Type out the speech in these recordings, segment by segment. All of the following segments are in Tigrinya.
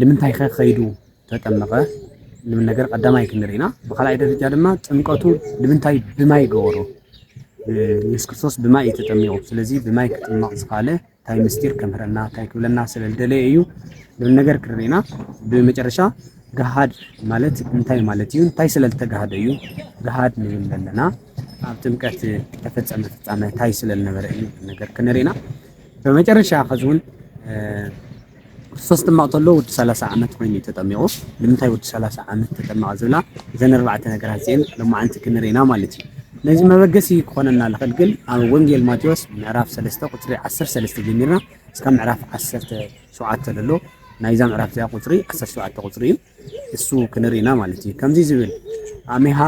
ልምንታይከ ከይዱ ተጠመቐ ልብል ነገር ቀዳማይ ክንርኢ ኢና። ብኻልኣይ ደረጃ ድማ ጥምቀቱ ልምንታይ ብማይ ገበሮ? ኢየሱስ ክርስቶስ ብማይ እዩ ተጠሚቑ። ስለዚ ብማይ ክጥመቕ ዝኸኣለ እንታይ ምስጢር ከምህረና እንታይ ክብለና ስለ ዝደለየ እዩ ዝብል ነገር ክንርኢ ኢና። ብመጨረሻ ገሃድ ማለት እንታይ ማለት እዩ? እንታይ ስለ ዝተጋህደ እዩ ገሃድ ንብል ዘለና? ኣብ ጥምቀት ተፈጸመ ፍጻመ እንታይ ስለ ዝነበረ እዩ ነገር ክንርኢ ኢና። ብመጨረሻ ከዚ እውን ክርስቶስ ክጥመቕ ከሎ ወዲ ሰላሳ ዓመት ኮይኑ እዩ ተጠሚቑ። ንምንታይ ወዲ ሰላሳ ዓመት ተጠመቐ ዝብላ እዘን ኣርባዕተ ነገራት እዚኤን ሎማዓንቲ ክንርኢ ኢና ማለት እዩ። ነዚ መበገሲ ክኾነና ዝኽእል ግን ኣብ ወንጌል ማቴዎስ ምዕራፍ ሰለስተ ቁጽሪ ዓሰርተ ሰለስተ ጀሚርና እስካብ ምዕራፍ ዓሰርተ ሸውዓተ ዘሎ ናይዛ ምዕራፍ እዚኣ ቁጽሪ ዓሰርተ ሸውዓተ ቁጽሪ እዩ እሱ ክንርኢ ኢና ማለት እዩ። ከምዚ ዝብል ኣሜሃ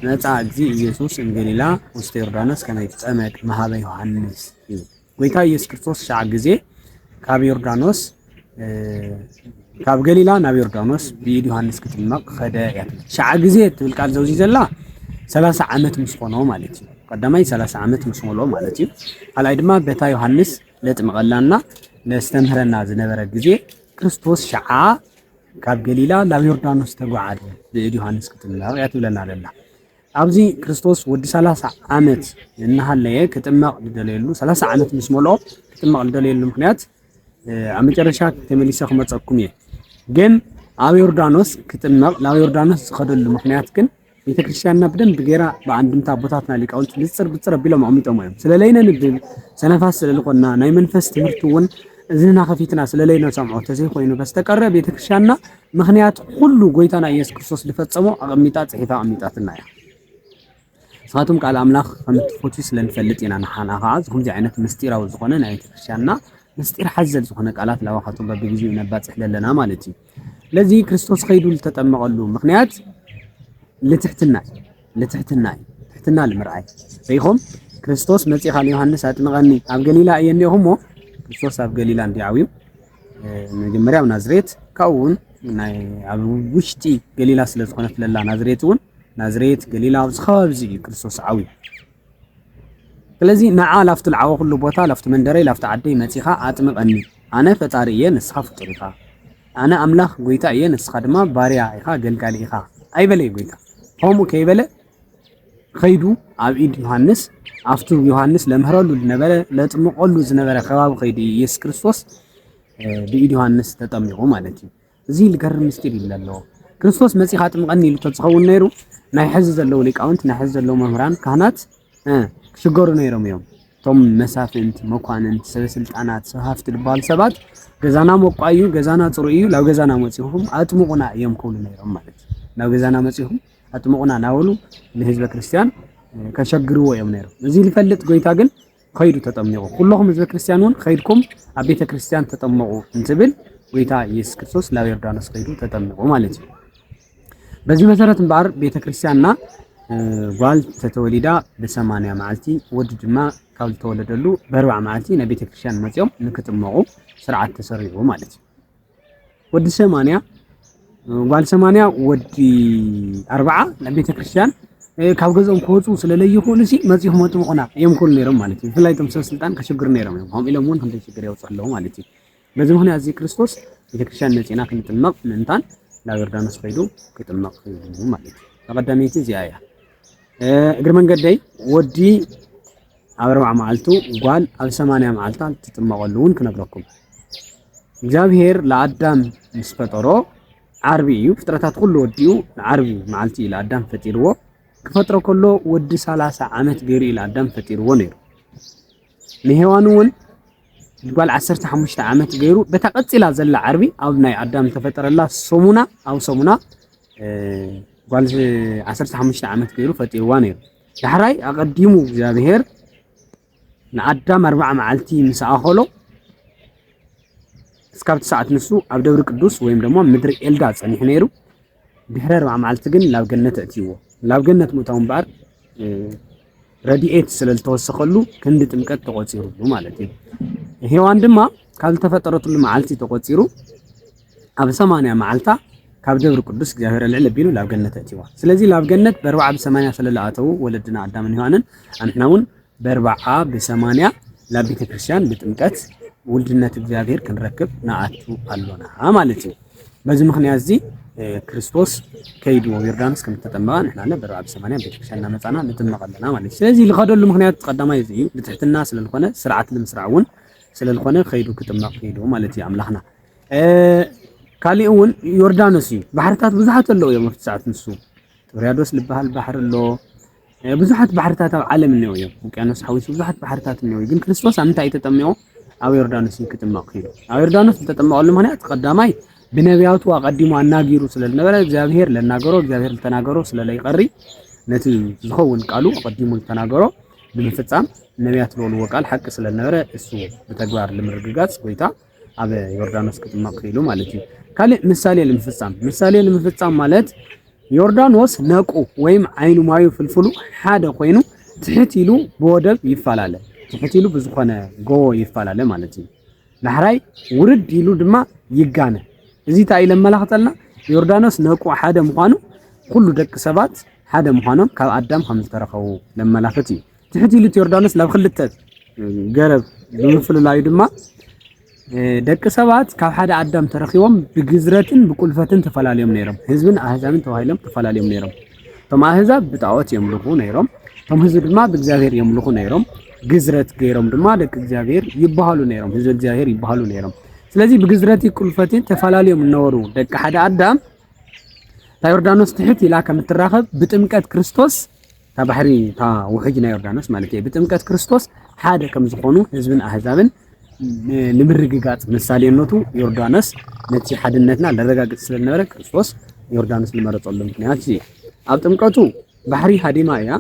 መጽኣ እግዚእ ኢየሱስ እምገሊላ ውስተ ዮርዳኖስ ከመ ይትጸመድ መሃበ ዮሃንስ እዩ። ጎይታ ኢየሱስ ክርስቶስ ትሽዓ ግዜ ካብ ዮርዳኖስ ካብ ገሊላ ናብ ዮርዳኖስ ብኢድ ዮሃንስ ክጥመቕ ኸደ እያ ትብል። ትሽዓ ግዜ እትብል ቃል ዘውዚ ዘላ ሰላሳ ዓመት ምስ ኾኖ ማለት እዩ። ቀዳማይ ሰላሳ ዓመት ምስ ሞልኦ ማለት እዩ። ካልኣይ ድማ በታ ዮሃንስ ለጥምቐላና ለስተምህረና ዝነበረ ግዜ ክርስቶስ ሸዓ ካብ ገሊላ ናብ ዮርዳኖስ ተጓዓዘ ብእድ ዮሃንስ ክትምለቕ እያ ትብለና ዘላ ኣብዚ ክርስቶስ ወዲ ሰላሳ ዓመት እናሃለየ ክጥመቕ ዝደለየሉ ሰላሳ ዓመት ምስ መልኦ ክጥመቕ ዝደለየሉ ምክንያት ኣብ መጨረሻ ተመሊሰ ክመፀኩም እየ ግን ኣብ ዮርዳኖስ ክጥመቕ ናብ ዮርዳኖስ ዝኸደሉ ምክንያት ግን ቤተክርስትያንና ብደንብ ገይራ ብኣንድምታ ኣቦታትና ሊቃውንቲ ብፅር ብፅር ኣቢሎም ኣቕሚጦሞ እዮም ስለለይነ ንድል ሰነፋት ስለዝኾንና ናይ መንፈስ ትምህርቲ እውን እዝንና ከፊትና ስለለይነ ሰምዖ ተዘይኮይኑ በስተቀረ ቤተክርስትያንና ምኽንያት ኹሉ ጎይታና ኢየሱስ ክርስቶስ ልፈጸሞ ኣቐሚጣ ጽሒፋ ኣቐሚጣትና እያ። ንስኻትኩም ቃል ኣምላኽ ከም እትፈትዩ ስለ ንፈልጥ ኢና ንሓና ኸዓ ዝኹምዚ ዓይነት ምስጢራዊ ዝኾነ ናይ ቤተክርስቲያንና ምስጢር ሓዘል ዝኾነ ቃላት ላባኻቶም በብግዜኡ ነባጽሕ ዘለና ማለት እዩ ለዚ ክርስቶስ ኸይዱ ዝተጠመቐሉ ምኽንያት ልትሕትና ልትሕትና እዩ ትሕትና ልምርኣይ ርኢኹም ክርስቶስ መጺኻ ንዮሃንስ ኣጥምቐኒ ኣብ ገሊላ እየ እኒኦኹ እሞ ክርስቶስ ኣብ ገሊላ እንዲ ዓብዩ መጀመርያ ኣብ ናዝሬት ካብኡ እውን ናይ ኣብ ውሽጢ ገሊላ ስለ ዝኾነት ለላ ናዝሬት እውን ናዝሬት ገሊላ ኣብዚ ከባቢ እዚ እዩ ክርስቶስ ዓው ስለዚ ንዓ ላፍቲ ልዓወ ኩሉ ቦታ ላፍቲ መንደረይ ላፍቲ ዓደይ መፂኻ ኣጥምቐኒ ኣነ ፈጣሪ እየ ንስኻ ፍጡር ኢኻ ኣነ ኣምላኽ ጎይታ እየ ንስኻ ድማ ባርያ ኢኻ ገልጋሊ ኢኻ ኣይበለይ ጎይታ ከምኡ ከይበለ ከይዱ ኣብ ኢድ ዮሃንስ ኣብቱ ዮሃንስ ለምህረሉ ዝነበረ ለጥምቀሉ ዝነበረ ከባቢ ከይዱ ኢየሱስ ክርስቶስ ብኢድ ዮሃንስ ተጠሚቑ ማለት እዩ። እዚ ልገርም ምስጢር እዩ ዘለዎ ክርስቶስ መፂኻ ጥምቐኒ ኢሉ ተዝኸውን ነይሩ ናይ ሕዚ ዘለዉ ሊቃውንት ናይ ሕዚ ዘለዉ መምህራን ካህናት ክሽገሩ ነይሮም እዮም። እቶም መሳፍንት፣ መኳንንት፣ ሰበስልጣናት፣ ሰብ ሃፍቲ ዝበሃሉ ሰባት ገዛና መቋዩ ገዛና ፅሩ እዩ ናብ ገዛና መፂኹም ኣጥምቑና እዮም ክብሉ ነይሮም ማለት እዩ ናብ ገዛና መፂኹም ኣጥምቑና ናበሉ ንህዝበ ክርስትያን ከሸግርዎ እዮም ነይሮም። እዚ ዝፈልጥ ጎይታ ግን ከይዱ ተጠሚቑ። ኩለኹም ህዝበ ክርስትያን እውን ከይድኩም ኣብ ቤተ ክርስትያን ተጠመቑ እንትብል ጎይታ ኢየሱስ ክርስቶስ ናብ ዮርዳኖስ ከይዱ ተጠሚቑ ማለት እዩ። በዚ መሰረት እምበኣር ቤተ ክርስትያንና ጓል ተተወሊዳ ብሰማንያ መዓልቲ ወዲ ድማ ካብ ዝተወለደሉ በርባዕ መዓልቲ ናብ ቤተ ክርስትያን መፅኦም ንክጥመቑ ስርዓት ተሰሪዑ ማለት እዩ። ወዲ ሰማንያ ጓል ሰማንያ ወዲ ኣርባዓ ናብ ቤተ ክርስቲያን ካብ ገዝኦም ክወፁ ስለለይኽእሉ ሲ መፂኹም ኣጥምቑና እዮም ክብሉ ነይሮም ማለት እዩ ብፍላይ እቶም ሰብ ስልጣን ከሸግሩ ነይሮም እዮም ከምኡ ኢሎም እውን ክንደይ ሽግር የውፅእ ኣለዉ ማለት እዩ በዚ ምክንያት እዚ ክርስቶስ ቤተክርስትያን መፂና ክንጥመቕ ምእንታን ናብ ዮርዳኖስ ከይዱ ክጥመቕ ማለት እዩ ተቐዳመይቲ እዚኣ እያ እግሪ መንገደይ ወዲ ኣብ ኣርብዓ መዓልቱ ጓል ኣብ ሰማንያ መዓልታ ትጥመቐሉ እውን ክነግረኩም እግዚኣብሄር ለኣዳም ምስ ፈጠሮ ዓርቢ እዩ ፍጥረታት ኩሉ ወዲኡ ዓርቢ መዓልቲ እዩ ለኣዳም ፈጢርዎ ክፈጥሮ ከሎ ወዲ ሰላሳ ዓመት ገይሩ እዩ ለኣዳም ፈጢርዎ ነይሩ ንሄዋን እውን ጓል ዓሰርተ ሓሙሽተ ዓመት ገይሩ በታ ቀፂላ ዘላ ዓርቢ ኣብ ናይ ኣዳም ተፈጠረላ ሰሙና ኣብ ሰሙና ጓል ዓሰርተ ሓሙሽተ ዓመት ገይሩ ፈጢርዋ ነይሩ ዳሕራይ ኣቐዲሙ እግዚኣብሔር ንኣዳም ኣርባዓ መዓልቲ ምስ ኣኸሎ እስካብ ትስዓት ንሱ ኣብ ደብሪ ቅዱስ ወይም ደሞ ምድሪ ኤልዳ ጸኒሑ ነይሩ ድሕሪ ኣርባዓ መዓልቲ ግን ናብ ገነት እእትይዎ ናብ ገነት ምእታው እምበኣር ረድኤት ስለ ዝተወሰኸሉ ክንዲ ጥምቀት ተቖፂሩሉ ማለት እዩ ሔዋን ድማ ካብ ዝተፈጠረትሉ መዓልቲ ተቖፂሩ ኣብ ሰማንያ መዓልታ ካብ ደብሪ ቅዱስ እግዚኣብሔር ኣልዕል ኣቢሉ ላብ ገነት ኣእቲዋ። ስለዚ ላብ ገነት በርብዓ ብሰማንያ ሰለለ ኣተዉ ወለድና ኣዳምን ዮሃንን ኣንሕና እውን በርብዓ ብሰማንያ ላብ ቤተ ክርስቲያን ብጥምቀት ውልድነት እግዚኣብሔር ክንረክብ ንኣቱ ኣሎና ማለት እዩ። በዚ ምክንያት እዚ ክርስቶስ ከይዱ ዮርዳኖስ ከም ዝተጠመቐ ንሕና ለ በርብዓ ብሰማንያ ቤተክርስትያን እናመፃና ንጥመቕ ኣለና ማለት እዩ ስለዚ ዝኸደሉ ምክንያት ቀዳማይ እዚ እዩ ብትሕትና ስለዝኾነ ስርዓት ንምስራዕ እውን ስለዝኾነ ከይዱ ክጥመቕ ከይዱ ማለት እዩ ኣምላኽና ካሊእ እውን ዮርዳኖስ እዩ ባሕርታት ብዙሓት ኣለዉ እዮም ኣብቲ ሰዓት ንሱ ጥብርያዶስ ዝበሃል ባሕሪ ኣሎ ብዙሓት ባሕርታት ኣብ ዓለም እኒኦ እዮም ውቅያኖስ ሓዊሱ ብዙሓት ባሕርታት እኒኦ ግን ክርስቶስ ኣብ ምንታይ እዩ ተጠሚቑ ኣብ ዮርዳኖስ እዩ ክጥመቕ ክኢሉ ኣብ ዮርዳኖስ ዝተጠመቐሉ ምክንያት ቀዳማይ ብነቢያቱ ኣቐዲሙ ኣናጊሩ ስለ ዝነበረ እግዚኣብሄር ለናገሮ እግዚኣብሄር ዝተናገሮ ስለ ለይቐሪ ነቲ ዝኸውን ቃሉ ኣቐዲሙ ዝተናገሮ ንምፍፃም ነቢያት ዝበልዎ ቃል ሓቂ ስለ ዝነበረ እሱ ብተግባር ንምርግጋፅ ጎይታ ኣብ ዮርዳኖስ ክጥመቕ ክኢሉ ማለት እዩ። ካልእ ምሳሌ ንምፍጻም ምሳሌ ንምፍጻም ማለት ዮርዳኖስ ነቁ ወይም ዓይኑ ማዩ ፍልፍሉ ሓደ ኮይኑ ትሕት ኢሉ ብወደብ ይፈላለ ትሕት ኢሉ ብዝኾነ ጎቦ ይፈላለ ማለት እዩ። ዳሕራይ ውርድ ኢሉ ድማ ይጋነ። እዚ እንታይ ኢለ መላኽተልና ዮርዳኖስ ነቁ ሓደ ምዃኑ ኩሉ ደቂ ሰባት ሓደ ምዃኖም ካብ ኣዳም ከም ዝተረኸቡ ለመላኽት እዩ። ትሕት ኢሉ እቲ ዮርዳኖስ ናብ ክልተ ገረብ ብምፍልላዩ ድማ ደቂ ሰባት ካብ ሓደ ኣዳም ተረኺቦም ብግዝረትን ብቁልፈትን ተፈላለዮም ነይሮም። ህዝብን ኣህዛብን ተባሂሎም ተፈላለዮም ነይሮም። እቶም ኣህዛብ ብጣዖት የምልኹ ነይሮም፣ እቶም ህዝቢ ድማ ብእግዚኣብሔር የምልኹ ነይሮም። ግዝረት ገይሮም ድማ ደቂ እግዚኣብሔር ይበሃሉ ነይሮም፣ ህዝቢ እግዚኣብሔር ይበሃሉ ነይሮም። ስለዚ ብግዝረት ቁልፈትን ተፈላለዮም እነበሩ ደቂ ሓደ ኣዳም እታ ዮርዳኖስ ትሕት ኢላ ከም እትራኸብ ብጥምቀት ክርስቶስ እታ ባሕሪ እታ ውሕጅ ናይ ዮርዳኖስ ማለት እየ ብጥምቀት ክርስቶስ ሓደ ከም ዝኾኑ ህዝብን ኣህዛብን ንምርግጋፅ ምሳሌነቱ ዮርዳኖስ ነቲ ሓድነትና ለረጋግፅ ስለዝነበረ ክርስቶስ ዮርዳኖስ ዝመረፀሉ ምክንያት እዩ ኣብ ጥምቀቱ ባሕሪ ሃዲማ እያ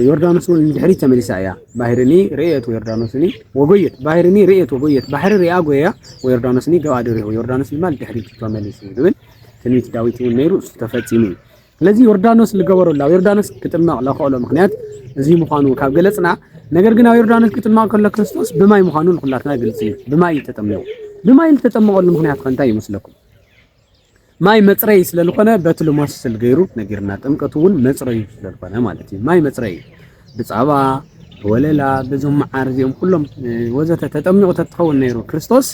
ዮርዳኖስ እውን ድሕሪት ተመሊሳ እያ ባህርኒ ርእየት ወዮርዳኖስኒ ወጎየት ባህርኒ ርእየት ወጎየት ባሕሪ ሪኣ ጎያ ወዮርዳኖስኒ ገባ ድሪዑ ዮርዳኖስ ድማ ድሕሪት ተመሊሱ ዝብል ትንቢት ዳዊት እውን ነይሩ እሱ ተፈፂሙ እዩ ስለዚ ዮርዳኖስ ዝገበረሉ ኣብ ዮርዳኖስ ክጥመቕ ለኸእሎ ምክንያት እዚ ምዃኑ ካብ ገለጽና፣ ነገር ግን ኣብ ዮርዳኖስ ክጥመቕ ከሎ ክርስቶስ ብማይ ምዃኑ ንኹላትና ግልጺ እዩ። ብማይ እዩ ተጠሚቑ። ብማይ ዝተጠመቐሉ ምክንያት ከ እንታይ ይመስለኩም? ማይ መጽረይ ስለ ዝኾነ በቲ ልሞስል ገይሩ ነጊርና። ጥምቀቱ እውን መጽረዩ ስለ ዝኾነ ማለት እዩ። ማይ መጽረይ እዩ። ብጻባ ወለላ በዞም መዓር እዚኦም ኩሎም ወዘተ ተጠሚቑ ተትኸውን ነይሩ ክርስቶስ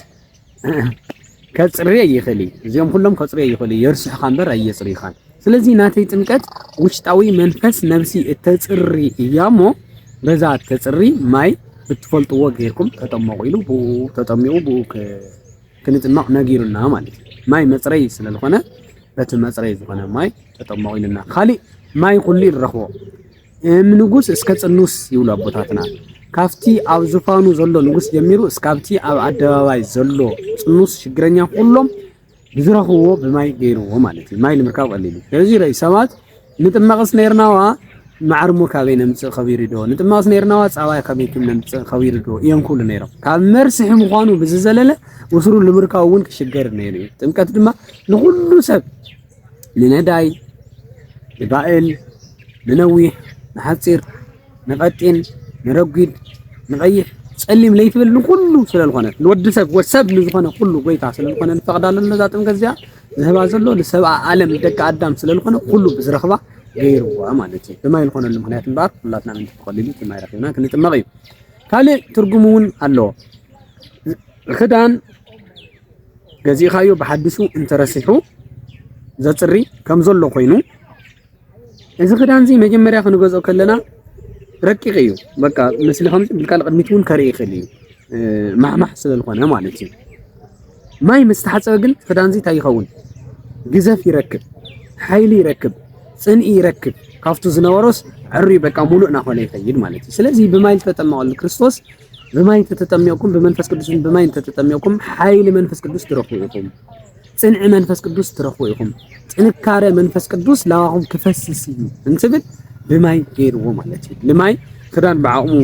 ከጽርየ ይኽእል እዩ። እዚኦም ኩሎም ከጽርዮ ይኽእሉ እዩ። የርስሑኻ እምበር ኣየጽርዩኻን። ስለዚ ናተይ ጥምቀት ውሽጣዊ መንፈስ ነብሲ እተጽሪ እያ እሞ በዛ እተጽሪ ማይ ብትፈልጥዎ ጌርኩም ተጠመቑ ኢሉ ብኡ ተጠሚቑ ብኡ ክንጥመቕ ነጊሩና ማለት እዩ። ማይ መጽረይ ስለ ዝኾነ በቲ መጽረይ ዝኾነ ማይ ተጠመቑ ኢሉና። ካሊእ ማይ ኩሉ ንረኽቦ እም ንጉስ እስከ ጽኑስ ይብሉ ኣቦታትና ካብቲ ኣብ ዙፋኑ ዘሎ ንጉስ ጀሚሩ እስካብቲ ኣብ ኣደባባይ ዘሎ ጽኑስ ሽግረኛ ኩሎም ብዝረኽብዎ ብማይ ገይርዎ ማለት እዩ ማይ ንምርካብ ቀሊሉ ስለዚ ረይ ሰባት ንጥመቕስ ነርናዋ ማዕርሞ ካበይ ነምጽእ ከቢሩ ዶ ንጥመቕስ ነርናዋ ጻባይ ከመይ ክም ነምጽእ ከቢሩ ዶ እዮም ክብሉ ነይሮም ካብ መርስሒ ምዃኑ ብዝዘለለ ውስሩ ንምርካብ እውን ክሽገር ነይሩ እዩ ጥምቀት ድማ ንኹሉ ሰብ ንነዳይ፣ ንባእል፣ ንነዊሕ፣ ንሓጺር፣ ንቐጢን፣ ንረጒድ፣ ንቐይሕ፣ ጸሊም ለይትብል ንኹሉ ስለልኾነት ንወዲ ሰብ ወድ ሰብ ንዝኾነ ኩሉ ጎይታ ስለልኾነ ንፈቕዳሉ ነዛ ጥምቀት እዚኣ ዝህባ ዘሎ ንሰብኣ ዓለም ደቂ ኣዳም ስለልኾነ ኩሉ ብዝረኽባ ገይርዋ ማለት እዩ። ብማይ ዝኾነሉ ምክንያት እምበኣር ኩላትና ምንቲ ተኸሊሉ እቲ ማይ ረኺብና ክንጥመቕ እዩ። ካልእ ትርጉም እውን ኣለዎ። ክዳን ገዚእኻዮ ብሓድሹ እንተረሲሑ ዘጽሪ ከም ዘሎ ኮይኑ እዚ ክዳን እዚ መጀመርያ ክንገዝኦ ከለና ረቂቕ እዩ። በቃ ምስሊ ከምዚ ብልካ ንቕድሚት እውን ከርኢ ይኽእል እዩ ማሕማሕ ስለዝኾነ ማለት እዩ። ማይ ምስ ተሓፀበ ግን ክዳን እዚ እንታይ ይኸውን? ግዘፍ ይረክብ፣ ሓይሊ ይረክብ፣ ፅንኢ ይረክብ። ካብቱ ዝነበሮስ ዕሪ በቃ ሙሉእ እናኾነ ይኸይድ ማለት እዩ። ስለዚ ብማይ ዝተጠመቐሉ ክርስቶስ ብማይ እንተ ተጠሚቕኩም ብመንፈስ ቅዱስን ብማይ እንተ ተጠሚቕኩም ሓይሊ መንፈስ ቅዱስ ትረኽቡ ኢኹም። ጽንዒ መንፈስ ቅዱስ ትረኽቡ ኢኹም። ጥንካረ መንፈስ ቅዱስ ላባኹም ክፈስስ እዩ እንትብል ብማይ ገይርዎ ማለት እዩ። ልማይ ክዳን ብዓቕሙ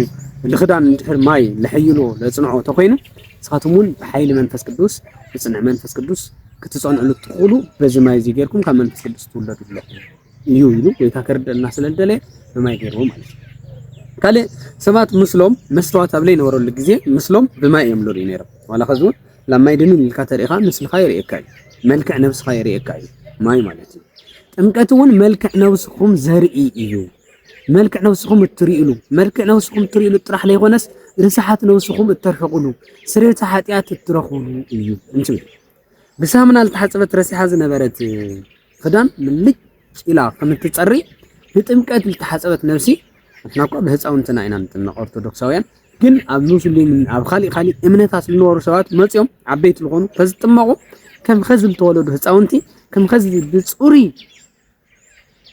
ልኽዳን እንድሕር ማይ ለሐይሎ ለጽንዖ ተኾይኑ ንስኻትኩም እውን ብሓይሊ መንፈስ ቅዱስ ብጽንዒ መንፈስ ቅዱስ ክትጸንዕሉ እትኽእሉ በዚ ማይ እዚ ጌርኩም ካብ መንፈስ ቅዱስ ትውለዱ ኣለኹም። እዩ ኢሉ ጎይታ ከርደና ስለ ዝደለየ ብማይ ገይርዎ ማለት እዩ። ካልእ ሰባት ምስሎም መስተዋት ኣብ ዘይነበረሉ ግዜ ምስሎም ብማይ እዮም ዝርእዩ ነይሮም። ዋላ ከዚ እውን ላብ ማይ ድንን ኢልካ ተሪእኻ ምስልኻ የርእየካ እዩ፣ መልክዕ ነብስኻ የርእየካ እዩ ማይ ማለት እዩ። ጥምቀት እውን መልክዕ ነብስኹም ዘርኢ እዩ። መልክዕ ነብስኹም እትርእሉ መልክዕ ነብስኹም እትርእሉ ጥራሕ ዘይኮነስ ርስሓት ነብስኹም እተርሕቕሉ ስርየተ ሓጢኣት እትረኽብሉ እዩ እንትብል ብሳምና ዝተሓፀበት ረሲሓ ዝነበረት ኽዳን ምልጭ ኢላ ከም እትጸሪ ብጥምቀት ልተሓጸበት ነብሲ ንሕና እኳ ብህጻውንትና ኢና ንጥመቅ ኦርቶዶክሳውያን ግን ኣብ ሙስሊምን ኣብ ኻሊእ ኻሊእ እምነታት ልነበሩ ሰባት መጽዮም ዓበይቲ ልኾኑ ተዝጥመቁ ከም ኸዚ ልተወለዱ ህጻውንቲ ከም ኸዚ ብጽሩይ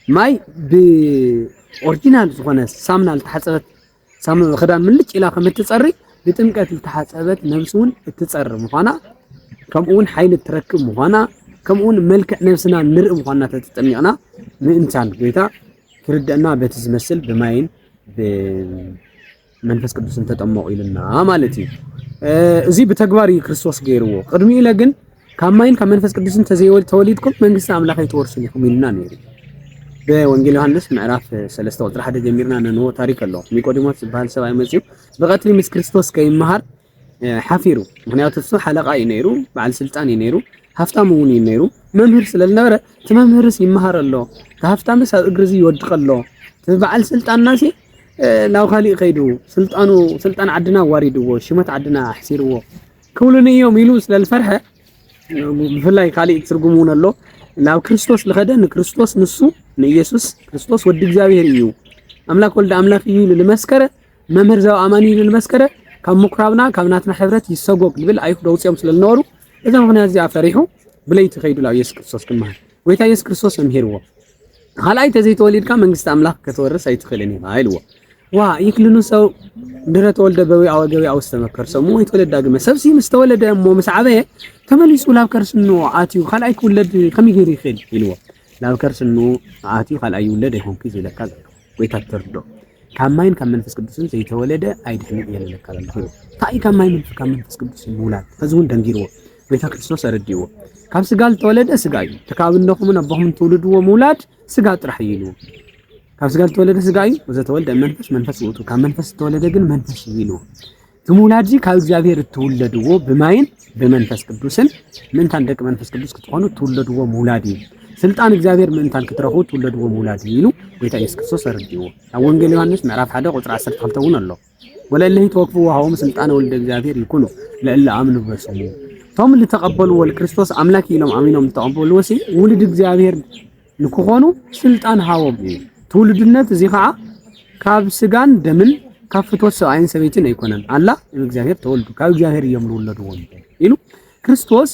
ማይ ብኦርጂናል ዝኾነ ሳምና ልተሓጸበት ሳሙና ክዳን ምልጭ ኢላ ከም እትጸሪ ብጥምቀት ዝተሓጸበት ነብሲ እውን እትጸሪ ምዃና ከምኡውን ሓይሊ እትረክብ ምዃና ከምኡውን መልክዕ ነብስና ንርኢ ምዃንና ተተጠሚቕና ምእንታን ጎይታ ክርደአና በቲ ዝመስል ብማይን ብመንፈስ ቅዱስን ተጠመቑ ኢሉና ማለት እዩ። እዚ ብተግባር እዩ ክርስቶስ ገይርዎ። ቅድሚኡ ኢለ ግን ካብ ማይን ካብ መንፈስ ቅዱስን ተዘይተወሊድኩም መንግስቲ ኣምላኽ ኣይትወርሱን ኢኹም ኢሉና ነይሩ። ብወንጌል ዮሃንስ ምዕራፍ 3 ቁጥሪ 1 ጀሚርና ነንዎ ታሪክ ኣሎ። ኒቆዲሞስ ዝበሃል ሰብኣይ መፅዩ ብቀትሪ ምስ ክርስቶስ ከይመሃር ሓፊሩ። ምክንያቱ እሱ ሓለቃ እዩ ነይሩ፣ በዓል ስልጣን እዩ ነይሩ፣ ሃፍታም እውን እዩ ነይሩ። መምህር ስለ ዝነበረ እቲ መምህርስ ይመሃር ኣሎ፣ እቲ ሃፍታምስ ኣብ እግሪ እዚ ይወድቅ ኣሎ፣ እቲ በዓል ስልጣንና ሲ ናብ ካሊእ ከይዱ ስልጣኑ ስልጣን ዓድና ዋሪድዎ፣ ሽመት ዓድና ኣሕሲርዎ ክብሉኒ እዮም ኢሉ ስለ ዝፈርሐ ብፍላይ ካልእ ትርጉም እውን ኣሎ ናብ ክርስቶስ ዝኸደ ንክርስቶስ ንሱ ንኢየሱስ ክርስቶስ ወዲ እግዚኣብሔር እዩ ኣምላክ ወልዲ ኣምላክ እዩ ኢሉ ዝመስከረ መምህር ዘው ኣማኒ ኢሉ ዝመስከረ ካብ ምኩራብና ካብ ናትና ሕብረት ይሰጎግ ዝብል ኣይሁድ ኣውፅኦም ስለ ዝነበሩ እዛ ምክንያት እዚኣ ፈሪሑ ብለይቲ ከይዱ ናብ ኢየሱስ ክርስቶስ ክመሃር ጎይታ ኢየሱስ ክርስቶስ መምሂርዎ ካልኣይ እንተዘይተወሊድካ መንግስቲ ኣምላኽ ከትወርስ ኣይትኽእልን ኢኻ ኢልዎ። ዋ ይክልኑ ሰው ድረ ተወልደ በዊ ኣወ ገቢ ኣውስ ተመከርሶ እሞ ወይ ተወለድ ዳግመ ሰብሲ ምስ ተወለደ እሞ ምስ ዓበየ ተመሊሱ ላብ ከርስኑ ኣትዩ ካልኣይ ክውለድ ከመይ ገይሩ ይኽእል ኢልዎ። ላብ ከርስኑ ኣትዩ ካልኣይ ይውለድ ኣይኮንኩ ዝብለካ ዘሎ ጎይታ ተርዶ ካብ ማይን ካብ መንፈስ ቅዱስን ዘይተወለደ ኣይድሕንን እየ ንብለካ ኣለኹ። እንታይ እዩ ካብ ማይን ካብ መንፈስ ቅዱስ ምውላድ? ሕዚ እውን ደንጊርዎ ጎይታ ክርስቶስ ኣረዲእዎ። ካብ ስጋ ዝተወለደ ስጋ እዩ። እቲ ካብ እነኹምን ኣቦኹምን ትውልድዎ ምውላድ ስጋ ጥራሕ እዩ ኢልዎ። ካብ ስጋ ዝተወለደ ስጋ እዩ፣ ወዘተወልደ መንፈስ መንፈስ ውእቱ፣ ካብ መንፈስ ዝተወለደ ግን መንፈስ እዩ ኢልዎ። ትምውላድዚ ካብ እግዚኣብሔር እትውለድዎ ብማይን ብመንፈስ ቅዱስን ምእንታን ደቂ መንፈስ ቅዱስ ክትኾኑ እትውለድዎ ምውላድ እዩ። ስልጣን እግዚኣብሔር ምእንታን ክትረኽቡ እትውለድዎ ምውላድ እዩ ኢሉ ጎይታ ኢየሱስ ክርስቶስ ኣረዲእዎ። ኣብ ወንጌል ዮሐንስ ምዕራፍ 1 ቁጽሪ 12 እውን ኣሎ። ወለእለሂ ተወክፉ ወሃቦም ስልጣነ ወልደ እግዚኣብሔር ይኩኑ ለእለ ኣምኑ በስሙ። እቶም ዝተቐበልዎ ክርስቶስ ኣምላክ ኢሎም ኣሚኖም ዝተቐበልዎ ውሉድ እግዚኣብሔር ንክኾኑ ስልጣን ሃቦም እዩ። ትውልድነት እዚ ከዓ ካብ ስጋን ደምን ካብ ፍትወት ሰብኣይን ሰበይትን ኣይኮነን ኣላ እግዚኣብሔር ተወልዱ ካብ እግዚኣብሔር እዮም ዝውለድዎም ኢሉ ክርስቶስ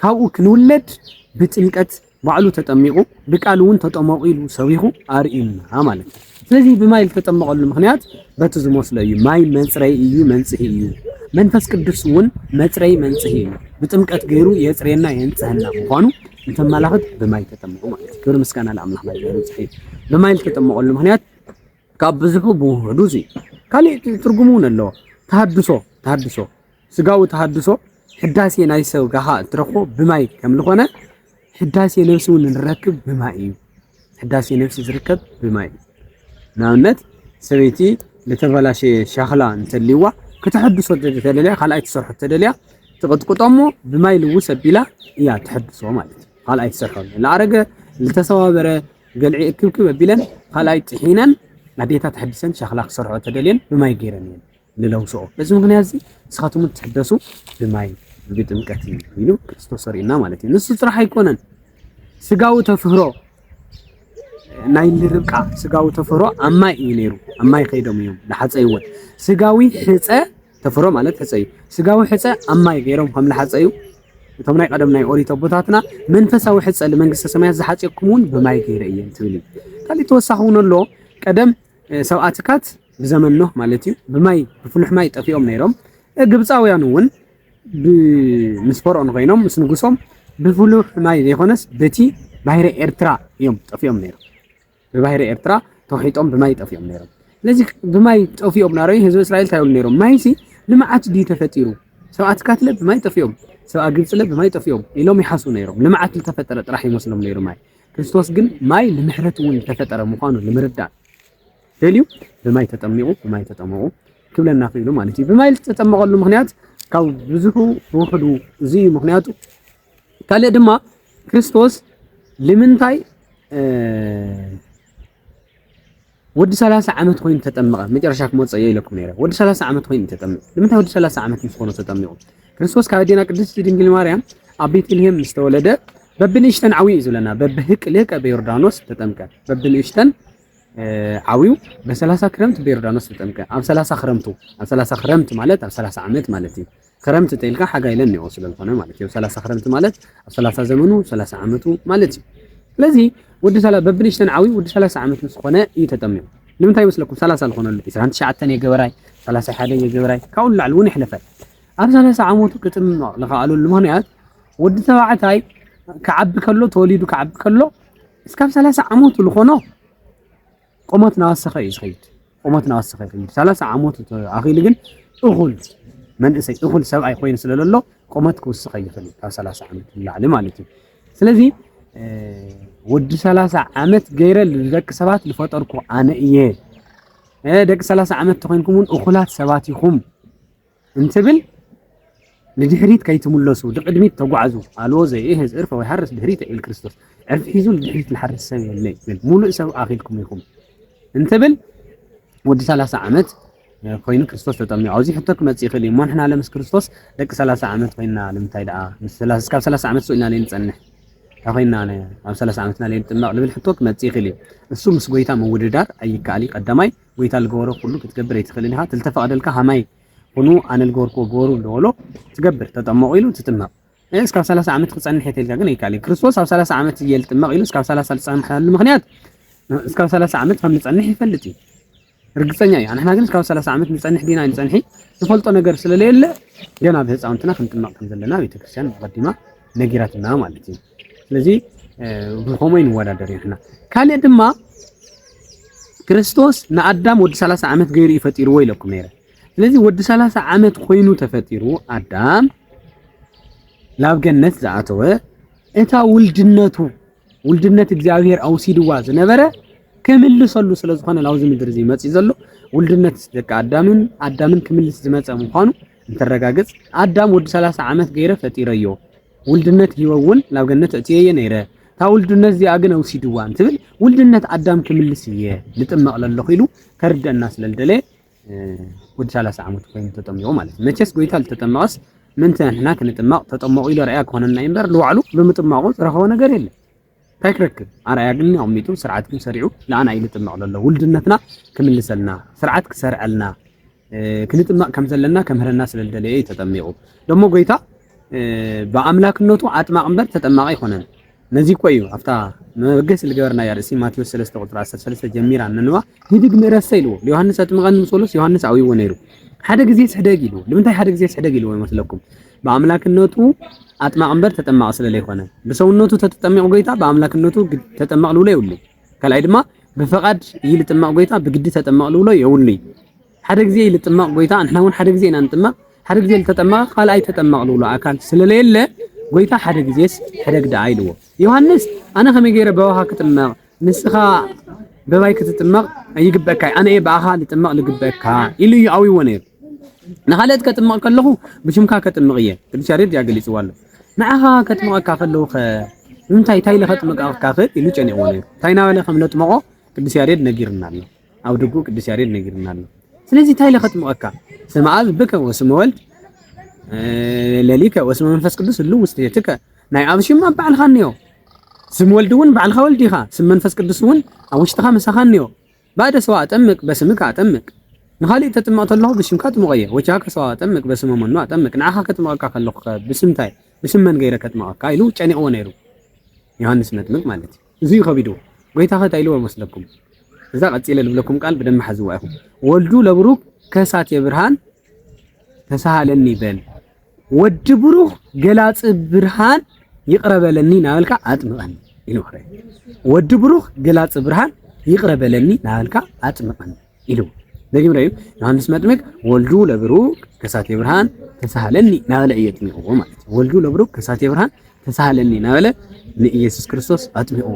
ካብኡ ክንውለድ ብጥምቀት ባዕሉ ተጠሚቑ ብቃል እውን ተጠመቑ ኢሉ ሰቢኹ ኣርእዩና ማለት እዩ። ስለዚ ብማይ ልተጠመቐሉ ምኽንያት በቲ ዝመስሎ እዩ፣ ማይ መጽረይ እዩ መንጽሂ እዩ፣ መንፈስ ቅዱስ እውን መጽረዪ መንጽሂ እዩ፣ ብጥምቀት ገይሩ የጽርየና የንጽሀና ምዃኑ እንተመላኽት ብማይ ተጠመቑ ማለት እዩ። ክብሪ ምስጋና ለኣምላኽ ናይ ዘበን ጽሒ ብማይ ልተጠመቐሉ ምኽንያት ካብ ብዙሑ ብውህዱ እዚ ካልእ ትርጉም እውን ኣለዎ። ተሃድሶ ተሃድሶ ስጋዊ ተሃድሶ ሕዳሴ ናይ ስጋኻ እትረኽቦ ብማይ ከም ዝኾነ ሕዳሴ ነብሲ እውን እንረክብ ብማይ እዩ። ሕዳሴ ነብሲ ዝርከብ ብማይ እዩ። ንኣብነት ሰበይቲ ዝተበላሸየ ሸኽላ እንተልይዋ ከተሐድሶ ተደልያ ካልኣይ ትሰርሖ ተደልያ ትቕጥቅጦ እሞ ብማይ ልውስ ኣቢላ እያ ትሐድሶ ማለት እዩ። ካልኣይ ትሰርሖ ዝኣረገ ዝተሰባበረ ገልዒ እክብክብ ኣቢለን ካልኣይ ጥሒነን ኣዴታት ተሐዲሰን ሸኽላ ክሰርሖ ተደልየን ብማይ ገይረን እየን። ንለውስኦ። በዚ ምኽንያትዚ ንስኻትኩም እትሕደሱ ብማይ ብጥምቀት እዩ ኢሉ ክርስቶስ ኣርእዩና ማለት እዩ። ንሱ ጥራሕ ኣይኮነን ስጋዊ ተፍህሮ ናይ ልርብቃ ስጋዊ ተፈሮ ኣብ ማይ እዩ ነይሩ። ኣብ ማይ ከይዶም እዮም ዝሓፀይዎን ስጋዊ ሕፀ ተፈሮ ማለት ሕፀ እዩ። ስጋዊ ሕፀ ኣብ ማይ ገይሮም ከም ዝሓፀዩ እቶም ናይ ቀደም ናይ ኦሪት ኣቦታትና መንፈሳዊ ሕፀ ንመንግስተ ሰማያት ዝሓፀየኩም እውን ብማይ ገይረ እየን ትብል እዩ። ካልእ ተወሳኺ እውን ኣሎ ቀደም ሰብኣትካት ብዘመን ኖህ ማለት እዩ ብማይ ብፍሉሕ ማይ ጠፊኦም ነይሮም። ግብፃውያን እውን ምስ ፈርኦን ኮይኖም ምስ ንጉሶም ብፍሉሕ ማይ ዘይኮነስ በቲ ባሕሪ ኤርትራ እዮም ጠፊኦም ነይሮም። ብባሕሪ ኤርትራ ተውሒጦም ብማይ ጠፊኦም ነይሮም። ስለዚ ብማይ ጠፊኦም ናረዩ ህዝቢ እስራኤል እንታይ ይብሉ ነይሮም? ማይሲ ልምዓት ድዩ ተፈጢሩ? ሰብኣት ካትለ ብማይ ጠፊኦም፣ ሰብኣ ግብፅለ ብማይ ጠፊኦም ኢሎም ይሓሱ ነይሮም። ልምዓት ዝተፈጠረ ጥራሕ ይመስሎም ነይሩ ማይ። ክርስቶስ ግን ማይ ንምሕረት እውን ዝተፈጠረ ምዃኑ ንምርዳእ ደልዩ ብማይ ተጠሚቑ ብማይ ተጠመቑ ክብለና ክኢሉ ማለት እዩ። ብማይ ዝተጠመቐሉ ምክንያት ካብ ብዙሑ ውሕዱ እዚ እዩ ምክንያቱ። ካልእ ድማ ክርስቶስ ልምንታይ ወዲ 30 ዓመት ኮይኑ ተጠመቐ መጨረሻ ክመፅእ እየ ኢለኩም ነይረ። ወዲ 30 ዓመት ኮይኑ ተጠመቀ። ንምንታይ ወዲ 30 ዓመት ምስ ኮነ ተጠሚቑ? ክርስቶስ ካብ ኣዴና ቅድስቲ ድንግል ማርያም ኣብ ቤተልሔም ምስ ተወለደ በብንእሽተን ዓብዩ እዩ ዝብለና። በብህቅ ልህቀ በዮርዳኖስ ተጠምቀ፣ በብንእሽተን ዓውዩ በሰላሳ ክረምት በዮርዳኖስ ተጠምቀ ኣብ ሰላሳ ክረምቱ ኣብ ሰላሳ ክረምት ማለት ኣብ ሰላሳ ዓመት ማለት እዩ ክረምት ተልካ ሓጋይ ለኒኦ ስለዝኾነ ማለት እዩ ሰላሳ ክረምት ማለት ኣብ ሰላሳ ዘመኑ ሰላሳ ዓመቱ ማለት እዩ ስለዚ ወዲ ሰላ በብንሽተን ዓውዩ ወዲ ሰላሳ ዓመት ምስ ዝኾነ እዩ ተጠሚቑ ንምንታይ ይመስለኩም ሰላሳ ዝኾነሉ ዕስራን ትሽዓተን የገበራይ ሰላሳ ሓደን የገበራይ ካብኡ ንላዕሊ እውን ይሕለፈ ኣብ ሰላሳ ዓመቱ ክጥምቕ ዝኸኣለሉ ምክንያት ወዲ ተባዕታይ ክዓቢ ከሎ ተወሊዱ ክዓቢ ከሎ እስካብ ሰላሳ ዓመቱ ልኾኖ ቆመት ናወሰኸ እዩ ዝኸይድ ቆመት ናወሰኸ ይኸይድ ሰላሳ ዓመቱ ኣኺሉ ግን እኹል መንእሰይ እኹል ሰብኣይ ኮይኑ ስለ ዘሎ ቆመት ክውስኸ ይኽእል እዩ ካብ ሰላሳ ዓመት ንላዕሊ ማለት እዩ ስለዚ ወዲ ሰላሳ ዓመት ገይረ ንደቂ ሰባት ዝፈጠርኩ ኣነ እየ ደቂ ሰላሳ ዓመት ተኮይንኩም እውን እኹላት ሰባት ኢኹም እንትብል ንድሕሪት ከይትምለሱ ድቅድሚት ተጓዕዙ ኣልዎ ዘይእህዝ እርፈ ወይ ሃርስ ድሕሪተ ኢል ክርስቶስ ዕርፊ ሒዙ ንድሕሪት ዝሓርስ ሰብ የለ ይብል ሙሉእ ሰብ ኣኺልኩም ኢኹም እንትብል ወዲ 30 ዓመት ኮይኑ ክርስቶስ ተጠሚቑ ኣብዚ ሕቶ ክመፅእ ይኽእል እዩ እሞ ንሕና ለምስ ክርስቶስ ደቂ 30 ዓመት ኮይና ንምንታይ ደኣ እስካብ 30 ዓመት ስኢልና ለይንፀንሕ እንታይ ኮይና ኣብ 30 ዓመትና ለይንጥመቕ ዝብል ሕቶ ክመፅእ ይኽእል እዩ እሱ ምስ ጎይታ ምውድዳር ኣይከኣል እዩ ቀዳማይ ጎይታ ልገበሮ ኩሉ ክትገብር ኣይትክእልን ኢካ ትልተፈቀደልካ ሃማይ ኩኑ ኣነ ልገበርክዎ ግበሩ ልበሎ ትገብር ተጠመቁ ኢሉ ትጥመቅ እ እስካብ ሰላሳ ዓመት ክጸንሕ እየ ተልካ ግን ኣይካል ክርስቶስ ኣብ ሰላሳ ዓመት እየ ልጥመቅ ኢሉ እስካብ ሰላሳ ልጸንሐሉ ምክንያት እስካብ ሰላሳ ዓመት ከም ልጸንሕ ይፈልጥ እዩ ርግጸኛ እዩ ኣንሕና ግን እስካብ ሰላሳ ዓመት ንጸንሕ ዲና ንጸንሒ ንፈልጦ ነገር ስለለየለ ገና ብህፃውንትና ክንጥመቅ ከም ዘለና ቤተክርስትያን ኣቀዲማ ነጊራትና ማለት እዩ። ስለዚ ብኸመይ ንወዳደር ንሕና። ካልእ ድማ ክርስቶስ ንኣዳም ወዲ 30 ዓመት ገይሩ እዩ ፈጢርዎ ኢለኩም ነይረ። ስለዚ ወዲ 30 ዓመት ኮይኑ ተፈጢሩ ኣዳም ናብ ገነት ዝኣተወ እታ ውልድነቱ ውልድነት እግዚኣብሔር ኣውሲድዋ ዝነበረ ክምልሰሉ ስለ ዝኾነ ናብዚ ምድሪ እዚ መፅኡ ዘሎ ውልድነት ደቂ ኣዳምን ኣዳምን ክምልስ ዝመፀ ምዃኑ እንተረጋግጽ ኣዳም ወዲ ሰላሳ ዓመት ገይረ ፈጢረዮ ውልድነት ሂወ እውን ናብ ገነት እእትየየ ነይረ እታ ውልድነት እዚኣ ግን ኣውሲድዋ እንትብል ውልድነት ኣዳም ክምልስ እየ ልጥመቕ ለለኹ ኢሉ ከርድአና ስለልደለየ ወዲ ሰላሳ ዓመት ኮይኑ ተጠሚቑ ማለት እዩ። መቼስ ጎይታ ልተጠመቐስ ምእንቲ ንሕና ክንጥመቕ ተጠመቑ ኢሎ ርኣያ ክኾነና እዩ እምበር ንባዕሉ ብምጥማቑ ዝረኸቦ ነገር የለን። ታይ ክረክብ ኣርኣያ ግን ኣቅሚጡ ስርዓት ግን ሰሪዑ ንኣና እዩ ልጥመቅ ለሎ ውልድነትና ክምልሰልና ስርዓት ክሰርዐልና ክንጥመቅ ከም ዘለና ከምህረና ስለ ዝደለየ እዩ ተጠሚቁ ደሞ ጎይታ ብኣምላክነቱ ኣጥማቅ እምበር ተጠማቂ ኣይኮነን ነዚ እኮ እዩ ኣብታ መበገሲ ዝገበርናያ ርእሲ ማቴዎስ 3 ቁፅሪ 13 ጀሚራ ነንዋ ሂድግ ንረሰ ኢልዎ ዮሃንስ ኣጥምቐኒ ምስ በሎስ ዮሃንስ ኣብይዎ ነይሩ ሓደ ግዜ ስሕደግ ኢልዎ ንምንታይ ሓደ ግዜ ስሕደግ ኢልዎ ይመስለኩም ብኣምላክነቱ ኣጥማቂ እምበር ተጠማቂ ስለለይኮነ ብሰውነቱ ተተጠሚቁ ጎይታ ብኣምላክነቱ ተጠማቂ ልብሎ የብሉ ካልኣይ ድማ ብፈቃድ ይልጥመቅ ጎይታ ብግዲ ተጠመቅ ልብሎ የብሉ ሓደ ግዜ ይልጥመቅ ጎይታ ንሕና እውን ሓደ ግዜ ኢና ንጥመቅ ሓደ ግዜ ዝተጠመቀ ካልኣይ ተጠመቅ ልብሎ ኣካል ስለለየለ ጎይታ ሓደ ግዜስ ሕደግ ደኣ ኢልዎ ዮሃንስ ኣነ ከመይ ገይረ በውሃ ክጥመቅ ንስኻ በባይ ክትጥመቕ ኣይግበእካይ ኣነ እየ ብኣኻ ልጥመቕ ልግበእካ ኢሉ እዩ ኣዊዎ ነይሩ። ንኻልኦት ከጥምቕ ከለኹ ብሽምካ ከጥምቕ እየ ቅዱስ ያሬድ እያ ገሊጽዎ ኣሎ። ንዓኻ ከጥምቐካ ከለዉ ኸ እንታይ እንታይ ኢለ ከጥምቐካ ክእል ኢሉ ጨኒቕዎ ነይሩ። እንታይ እናበለ ከም ለጥመቖ ቅዱስ ያሬድ ነጊርና ኣሎ። ኣብ ድጉ ቅዱስ ያሬድ ነጊርና ኣሎ። ስለዚ እንታይ ኢለ ከጥምቐካ ስመ ኣብ ብከ ወስመ ወልድ ለሊከ ወስመ መንፈስ ቅዱስ ህሉ ውስቴትከ ናይ ኣብ ሽም ኣብ ባዕልኻ እኒኦ፣ ስም ወልድ እውን ባዕልኻ ወልድ ኢኻ፣ ስም መንፈስ ቅዱስ እውን ኣብ ውሽጥኻ ምሳኻ እኒኦ። ባእደ ሰዋ ኣጠምቅ በስምከ ኣጠምቅ ንኻሊእ ተጥምቕ ተለኹ ብሽምካ ኣጥምቐዮ ወቻከ ሰዋ ኣጠምቅ በስመ መኑ ኣጠምቅ ንዓኻ ከጥምቐካ ከለኹከ ብስምታይ ብስም መን ገይረ ከጥምቐካ ኢሉ ጨኒቕዎ ነይሩ ዮሃንስ መጥምቅ ማለት እዩ እዙይ ከቢድዎ ጎይታኸ እንታይ ኢልዎ መስለኩም እዛ ቀፂለ ልብለኩም ቃል ብደንብ ሓዝዋ ኢኹም ወልዱ ለብሩክ ከሳቴ ብርሃን ተሳሃለኒ በል ወዲ ብሩኽ ገላጺ ብርሃን ይቕረ በለኒ ናበልካ ኣጥምቐኒ ኢሉ ክረ ወዲ ብሩኽ ገላጺ ብርሃን ይቕረ በለኒ ናበልካ ኣጥምቐኒ ኢሉ ደጊም ረዩ ዮሐንስ መጥምቅ ወልዱ ለብሩክ ከሳቴ ብርሃን ተሳሃለኒ ናበለ እዩ ኣጥሚቅዎ ማለት እዩ። ወልዱ ለብሩክ ከሳቴ ብርሃን ተሳሃለኒ ናበለ ንኢየሱስ ክርስቶስ ኣጥሚቅዎ።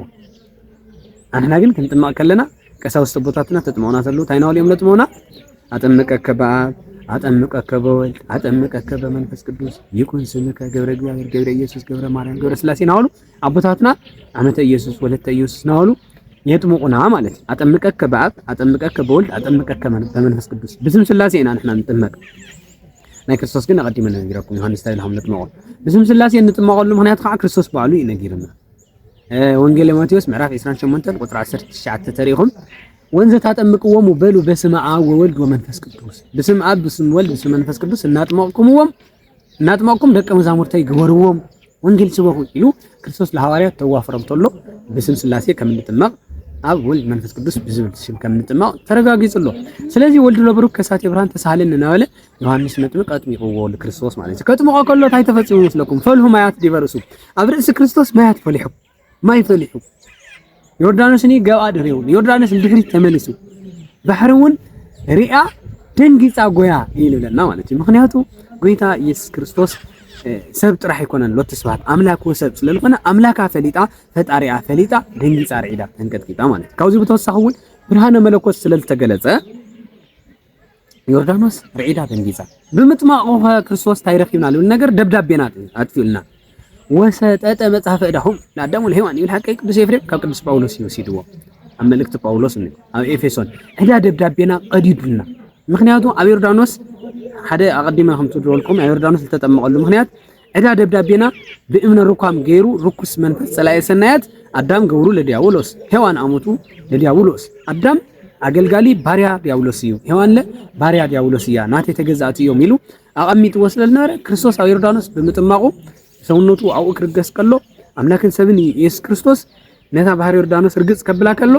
ኣንሕና ግን ክንጥመቕ ከለና ቀሳውስት ኣቦታትና ተጥምቑና ተለዉ እንታይ እናበሉ እዮም ለጥምቑና? ኣጠምቀከ በኣብ ኣጠምቀከ በወልድ ኣጠምቀከ በመንፈስ ቅዱስ ይኩን ስምከ ገብረ እግዚኣብሔር ገብረ ኢየሱስ ገብረ ማርያም ገብረ ስላሴ ናበሉ ኣቦታትና ዓመተ ኢየሱስ ወለተ ኢየሱስ ናበሉ የጥምቑና ማለት እዩ። ኣጠምቀከ በኣብ ኣጠምቀከ በወልድ ኣጠምቀከ በመንፈስ ቅዱስ ብስም ስላሴ ኢና ንሕና ንጥመቅ። ናይ ክርስቶስ ግን ኣቐዲመ ነጊረኩም ዮሃንስ እንታይ ኢልኩም ነጥመቖ ብስም ስላሴ እንጥመቐሉ ምክንያት ከዓ ክርስቶስ ባዕሉ እዩ ነጊርና። ወንጌል ማቴዎስ ምዕራፍ 28 ቁጥሪ 19 ተሪኢኹም ወንዘ ታጠምቅዎሙ በሉ በስመ አብ ወወልድ ወመንፈስ ቅዱስ ብስም አብ ብስም ወልድ ብስም መንፈስ ቅዱስ እናጥመቅኩምዎም እናጥመቅኩም ደቀ መዛሙርተይ ግበርዎም ወንጌል ስበኹ ኢሉ ክርስቶስ ለሐዋርያት ተዋፍሮም ተሎ ብስም ስላሴ ከም እንጥመቅ ኣብ ወልድ መንፈስ ቅዱስ ብዝብል ስም ከም እንጥመቅ ተረጋጊጹ ኣሎ። ስለዚህ ወልድ ለብሩክ ከሳቴ ብርሃን ተሳሃለኒ እናበለ ዮሃንስ መጥምቅ ኣጥሚቅዎ ንክርስቶስ ማለት እዩ። ከጥምቆ ከሎ እንታይ ተፈጺሙ ይመስለኩም? ፈልሁ ማያት ዲበ ርእሱ፣ ኣብ ርእሲ ክርስቶስ ማያት ፈሊሑ፣ ማይ ፈሊሑ፣ ዮርዳኖስኒ ገብኣ ድሕሪኡ፣ ዮርዳኖስ ንድሕሪት ተመሊሱ፣ ባሕሪ እውን ሪኣ ደንጊጻ ጎያ እዩ ንብለና ማለት እዩ። ምክንያቱ ጎይታ ኢየሱስ ክርስቶስ ሰብ ጥራሕ ኣይኮነን ሎቲ ስብሐት ኣምላክ ወሰብ ስለ ዝኾነ ኣምላካ ፈሊጣ ፈጣሪኣ ፈሊጣ ደንጊጻ ርዒዳ ተንቀጥቂጣ ማለት እዩ። ካብዚ ብተወሳኺ እውን ብርሃነ መለኮት ስለ ዝተገለጸ ዮርዳኖስ ርዒዳ ደንጊጻ ብምጥማቑኸ ክርስቶስ እንታይ ረኪብና ዝብል ነገር ደብዳቤና ኣጥፊኡልና ወሰጠጠ መጽሐፈ ዕዳኹም ንኣዳም ወለሔዋን ይብል ሓቀይ ቅዱስ ኤፍሬም ካብ ቅዱስ ጳውሎስ እዩ ወሲድዎ ኣብ መልእክቲ ጳውሎስ እ ኣብ ኤፌሶን ዕዳ ደብዳቤና ቀዲዱልና ምክንያቱ ኣብ ዮርዳኖስ ሓደ ኣቐዲመ ከም ትድረልኩም ኣብ ዮርዳኖስ ዝተጠመቐሉ ምክንያት ዕዳ ደብዳቤና ብእምነ ሩካም ገይሩ ርኩስ መንፈስ ጸላኤ ሰናያት ኣዳም ገብሩ ለዲያብሎስ ሔዋን ኣሙጡ ለዲያብሎስ ኣዳም ኣገልጋሊ ባርያ ዲያብሎስ እዩ ሔዋንለ ባርያ ዲያብሎስ እያ ናተይ ተገዛእቲ እዮም ኢሉ ኣቐሚጥዎ ስለ ዝነበረ ክርስቶስ ኣብ ዮርዳኖስ ብምጥማቑ ሰውነቱ ኣብኡ ክርገስ ከሎ ኣምላክን ሰብን ኢየሱስ ክርስቶስ ነታ ባህር ዮርዳኖስ ርግጽ ከብላ ከሎ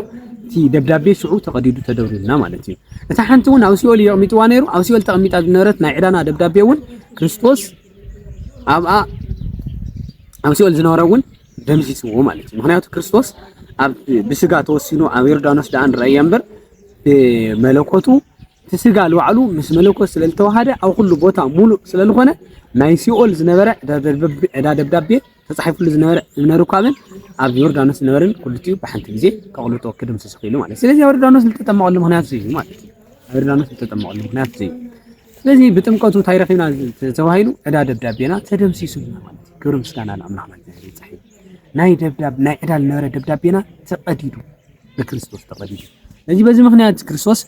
እቲ ደብዳቤ ሽዑ ተቐዲዱ ተደብሩልና ማለት እዩ እታ ሓንቲ እውን ኣብ ሲኦል የቕሚጥዋ ነይሩ ኣብ ሲኦል ተቐሚጣ ዝነበረት ናይ ዕዳና ደብዳቤ እውን ክርስቶስ ኣብኣ ኣብ ሲኦል ዝነበረ እውን ደምሲስዎ ማለት እዩ። ምክንያቱ ክርስቶስ ብስጋ ተወሲኑ ኣብ ዮርዳኖስ ደኣ ንረኣየ እምበር ብመለኮቱ እቲ ስጋ ልባዕሉ ምስ መለኮት ስለ ዝተዋሃደ ኣብ ኩሉ ቦታ ሙሉእ ስለ ዝኾነ ናይ ሲኦል ዝነበረ ዕዳ ደብዳቤ ተጻሒፍሉ ዝነበረ እምነ ርኳብን ኣብ ዮርዳኖስ ዝነበርን ኩሉቲኡ ብሓንቲ ግዜ ከቕልጦ ክድምስስ ክኢሉ ማለት እዩ። ስለዚ ዮርዳኖስ ዝተጠመቐሉ ምክንያት እዚ እዩ ማለት እዩ። ዮርዳኖስ ዝተጠመቐሉ ምክንያት እዚ እዩ። ስለዚ ብጥምቀቱ እንታይ ረኺብና ተባሂሉ ዕዳ ደብዳቤና ተደምሲሱ ማለት እዩ። ክብሪ ምስጋና ንኣምላኽ ማለት ይብጻሕ ናይ ደብዳብ ናይ ዕዳ ዝነበረ ደብዳቤና ተቐዲዱ ብክርስቶስ ተቐዲዱ። ስለዚህ በዚህ ምክንያት ክርስቶስ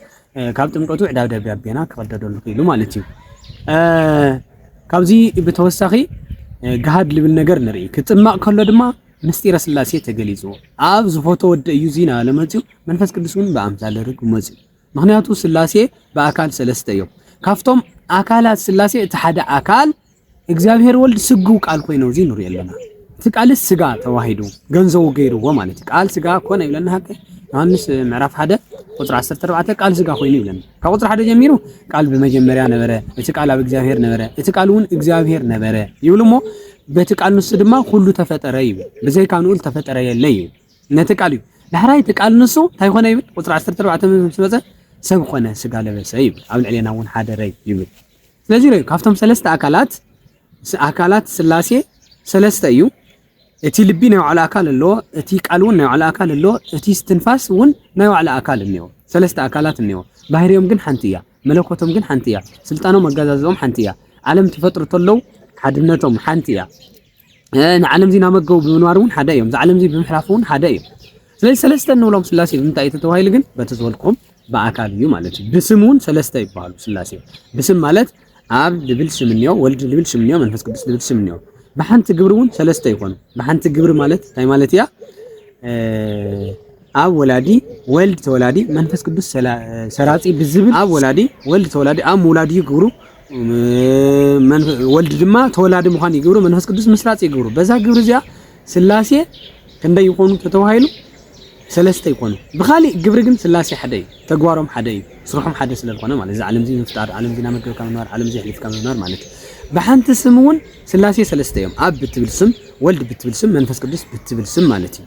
ካብ ጥምቀቱ ዕዳብ ደብዳቤና ክቐደደሉ ክኢሉ ማለት እዩ። ካብዚ ብተወሳኺ ገሃድ ልብል ነገር ንርኢ ክጥመቕ ከሎ ድማ ምስጢረ ስላሴ ተገሊጹ ኣብ ዝፎቶ ወደ እዩ ዚና ለመጽኡ መንፈስ ቅዱስ እውን ብኣምሳለ ርግብ መጽኡ ምክንያቱ ስላሴ ብኣካል ሰለስተ እዮም ካብቶም ኣካላት ስላሴ እቲ ሓደ ኣካል እግዚኣብሔር ወልድ ስግው ቃል ኮይኑ እዚ ንሪኦ ኣለና። እቲ ቃልስ ስጋ ተዋሂዱ ገንዘቡ ገይርዎ ማለት እዩ። ቃል ስጋ ኮነ ይብለና ሀቀ ዮሐንስ ምዕራፍ ሓደ ቁፅሪ 14 ቃል ስጋ ኮይኑ ይብለና። ካብ ቁፅሪ ሓደ ጀሚሩ ቃል ብመጀመርያ ነበረ፣ እቲ ቃል ኣብ እግዚኣብሔር ነበረ፣ እቲ ቃል እውን እግዚኣብሔር ነበረ ይብል እሞ በቲ ቃል ንሱ ድማ ኩሉ ተፈጠረ ይብል። ብዘይካ ንኡል ተፈጠረ የለ ይብል። ነቲ ቃል እዩ ዳሕራይ እቲ ቃል ንሱ እንታይ ኮነ ይብል ቁፅሪ 14 ምስ መፀ ሰብ ኮነ ስጋ ለበሰ ይብል። ኣብ ልዕሌና እውን ሓደረ ይብል። ስለዚ ርእ ካብቶም ሰለስተ ኣካላት ኣካላት ስላሴ ሰለስተ እዩ። እቲ ልቢ ናይ ባዕሉ ኣካል ኣለዎ፣ እቲ ቃል እውን ናይ ባዕሉ ኣካል ኣለዎ፣ እቲ ስትንፋስ እውን ናይ ባዕሉ ኣካል እኒዎ። ሰለስተ ኣካላት እኒዎ። ባህርዮም ግን ሓንቲ እያ፣ መለኮቶም ግን ሓንቲ እያ፣ ስልጣኖም ኣገዛዝኦም ሓንቲ እያ፣ ዓለም ተፈጥሩ ተለው ሓድነቶም ሓንቲ እያ። ንዓለም እዚ ናመገቡ ብምንባር እውን ሓደ እዮም። እዚ ዓለም እዚ ብምሕላፍ እውን ሓደ እዮም። ስለዚ ሰለስተ እንብሎም ስላሴ ብምንታይ እዩ ተተባሂሉ ግን በቲ ዝበልኩም ብኣካል እዩ ማለት እዩ። ብስም እውን ሰለስተ ይበሃሉ ስላሴ። ብስም ማለት ኣብ ልብል ስም እኒኦ፣ ወልድ ልብል ስም እኒኦ፣ መንፈስ ቅዱስ ልብል ስም እኒኦ። ብሓንቲ ግብሪ እውን ሰለስተ ይኾኑ። ብሓንቲ ግብሪ ማለት እንታይ ማለት እያ? ኣብ ወላዲ ወልድ ተወላዲ መንፈስ ቅዱስ ሰራጺ ብዝብል ኣብ ወላዲ ወልድ ተወላዲ ኣብ ምውላድ እዩ ግብሩ ወልድ ድማ ተወላዲ ምዃን ይገብሩ፣ መንፈስ ቅዱስ ምስራጽ ይገብሩ። በዛ ግብሪ እዚኣ ስላሴ ክንደይ ይኾኑ ተተባሂሉ ሰለስተ ይኾኑ። ብኻሊእ ግብሪ ግን ስላሴ ሓደ እዩ፣ ተግባሮም ሓደ እዩ፣ ስርሖም ሓደ ስለ ዝኾነ ማለት እዚ ዓለም እዚ ምፍጣር፣ ዓለም እዚ ናመገብካ ምንባር፣ ዓለም እዚ ኣሕሊፍካ ምንባር ማለት እዩ። ብሓንቲ ስም እውን ስላሴ ሰለስተ እዮም፣ ኣብ ብትብል ስም፣ ወልድ ብትብል ስም፣ መንፈስ ቅዱስ ብትብል ስም ማለት እዩ።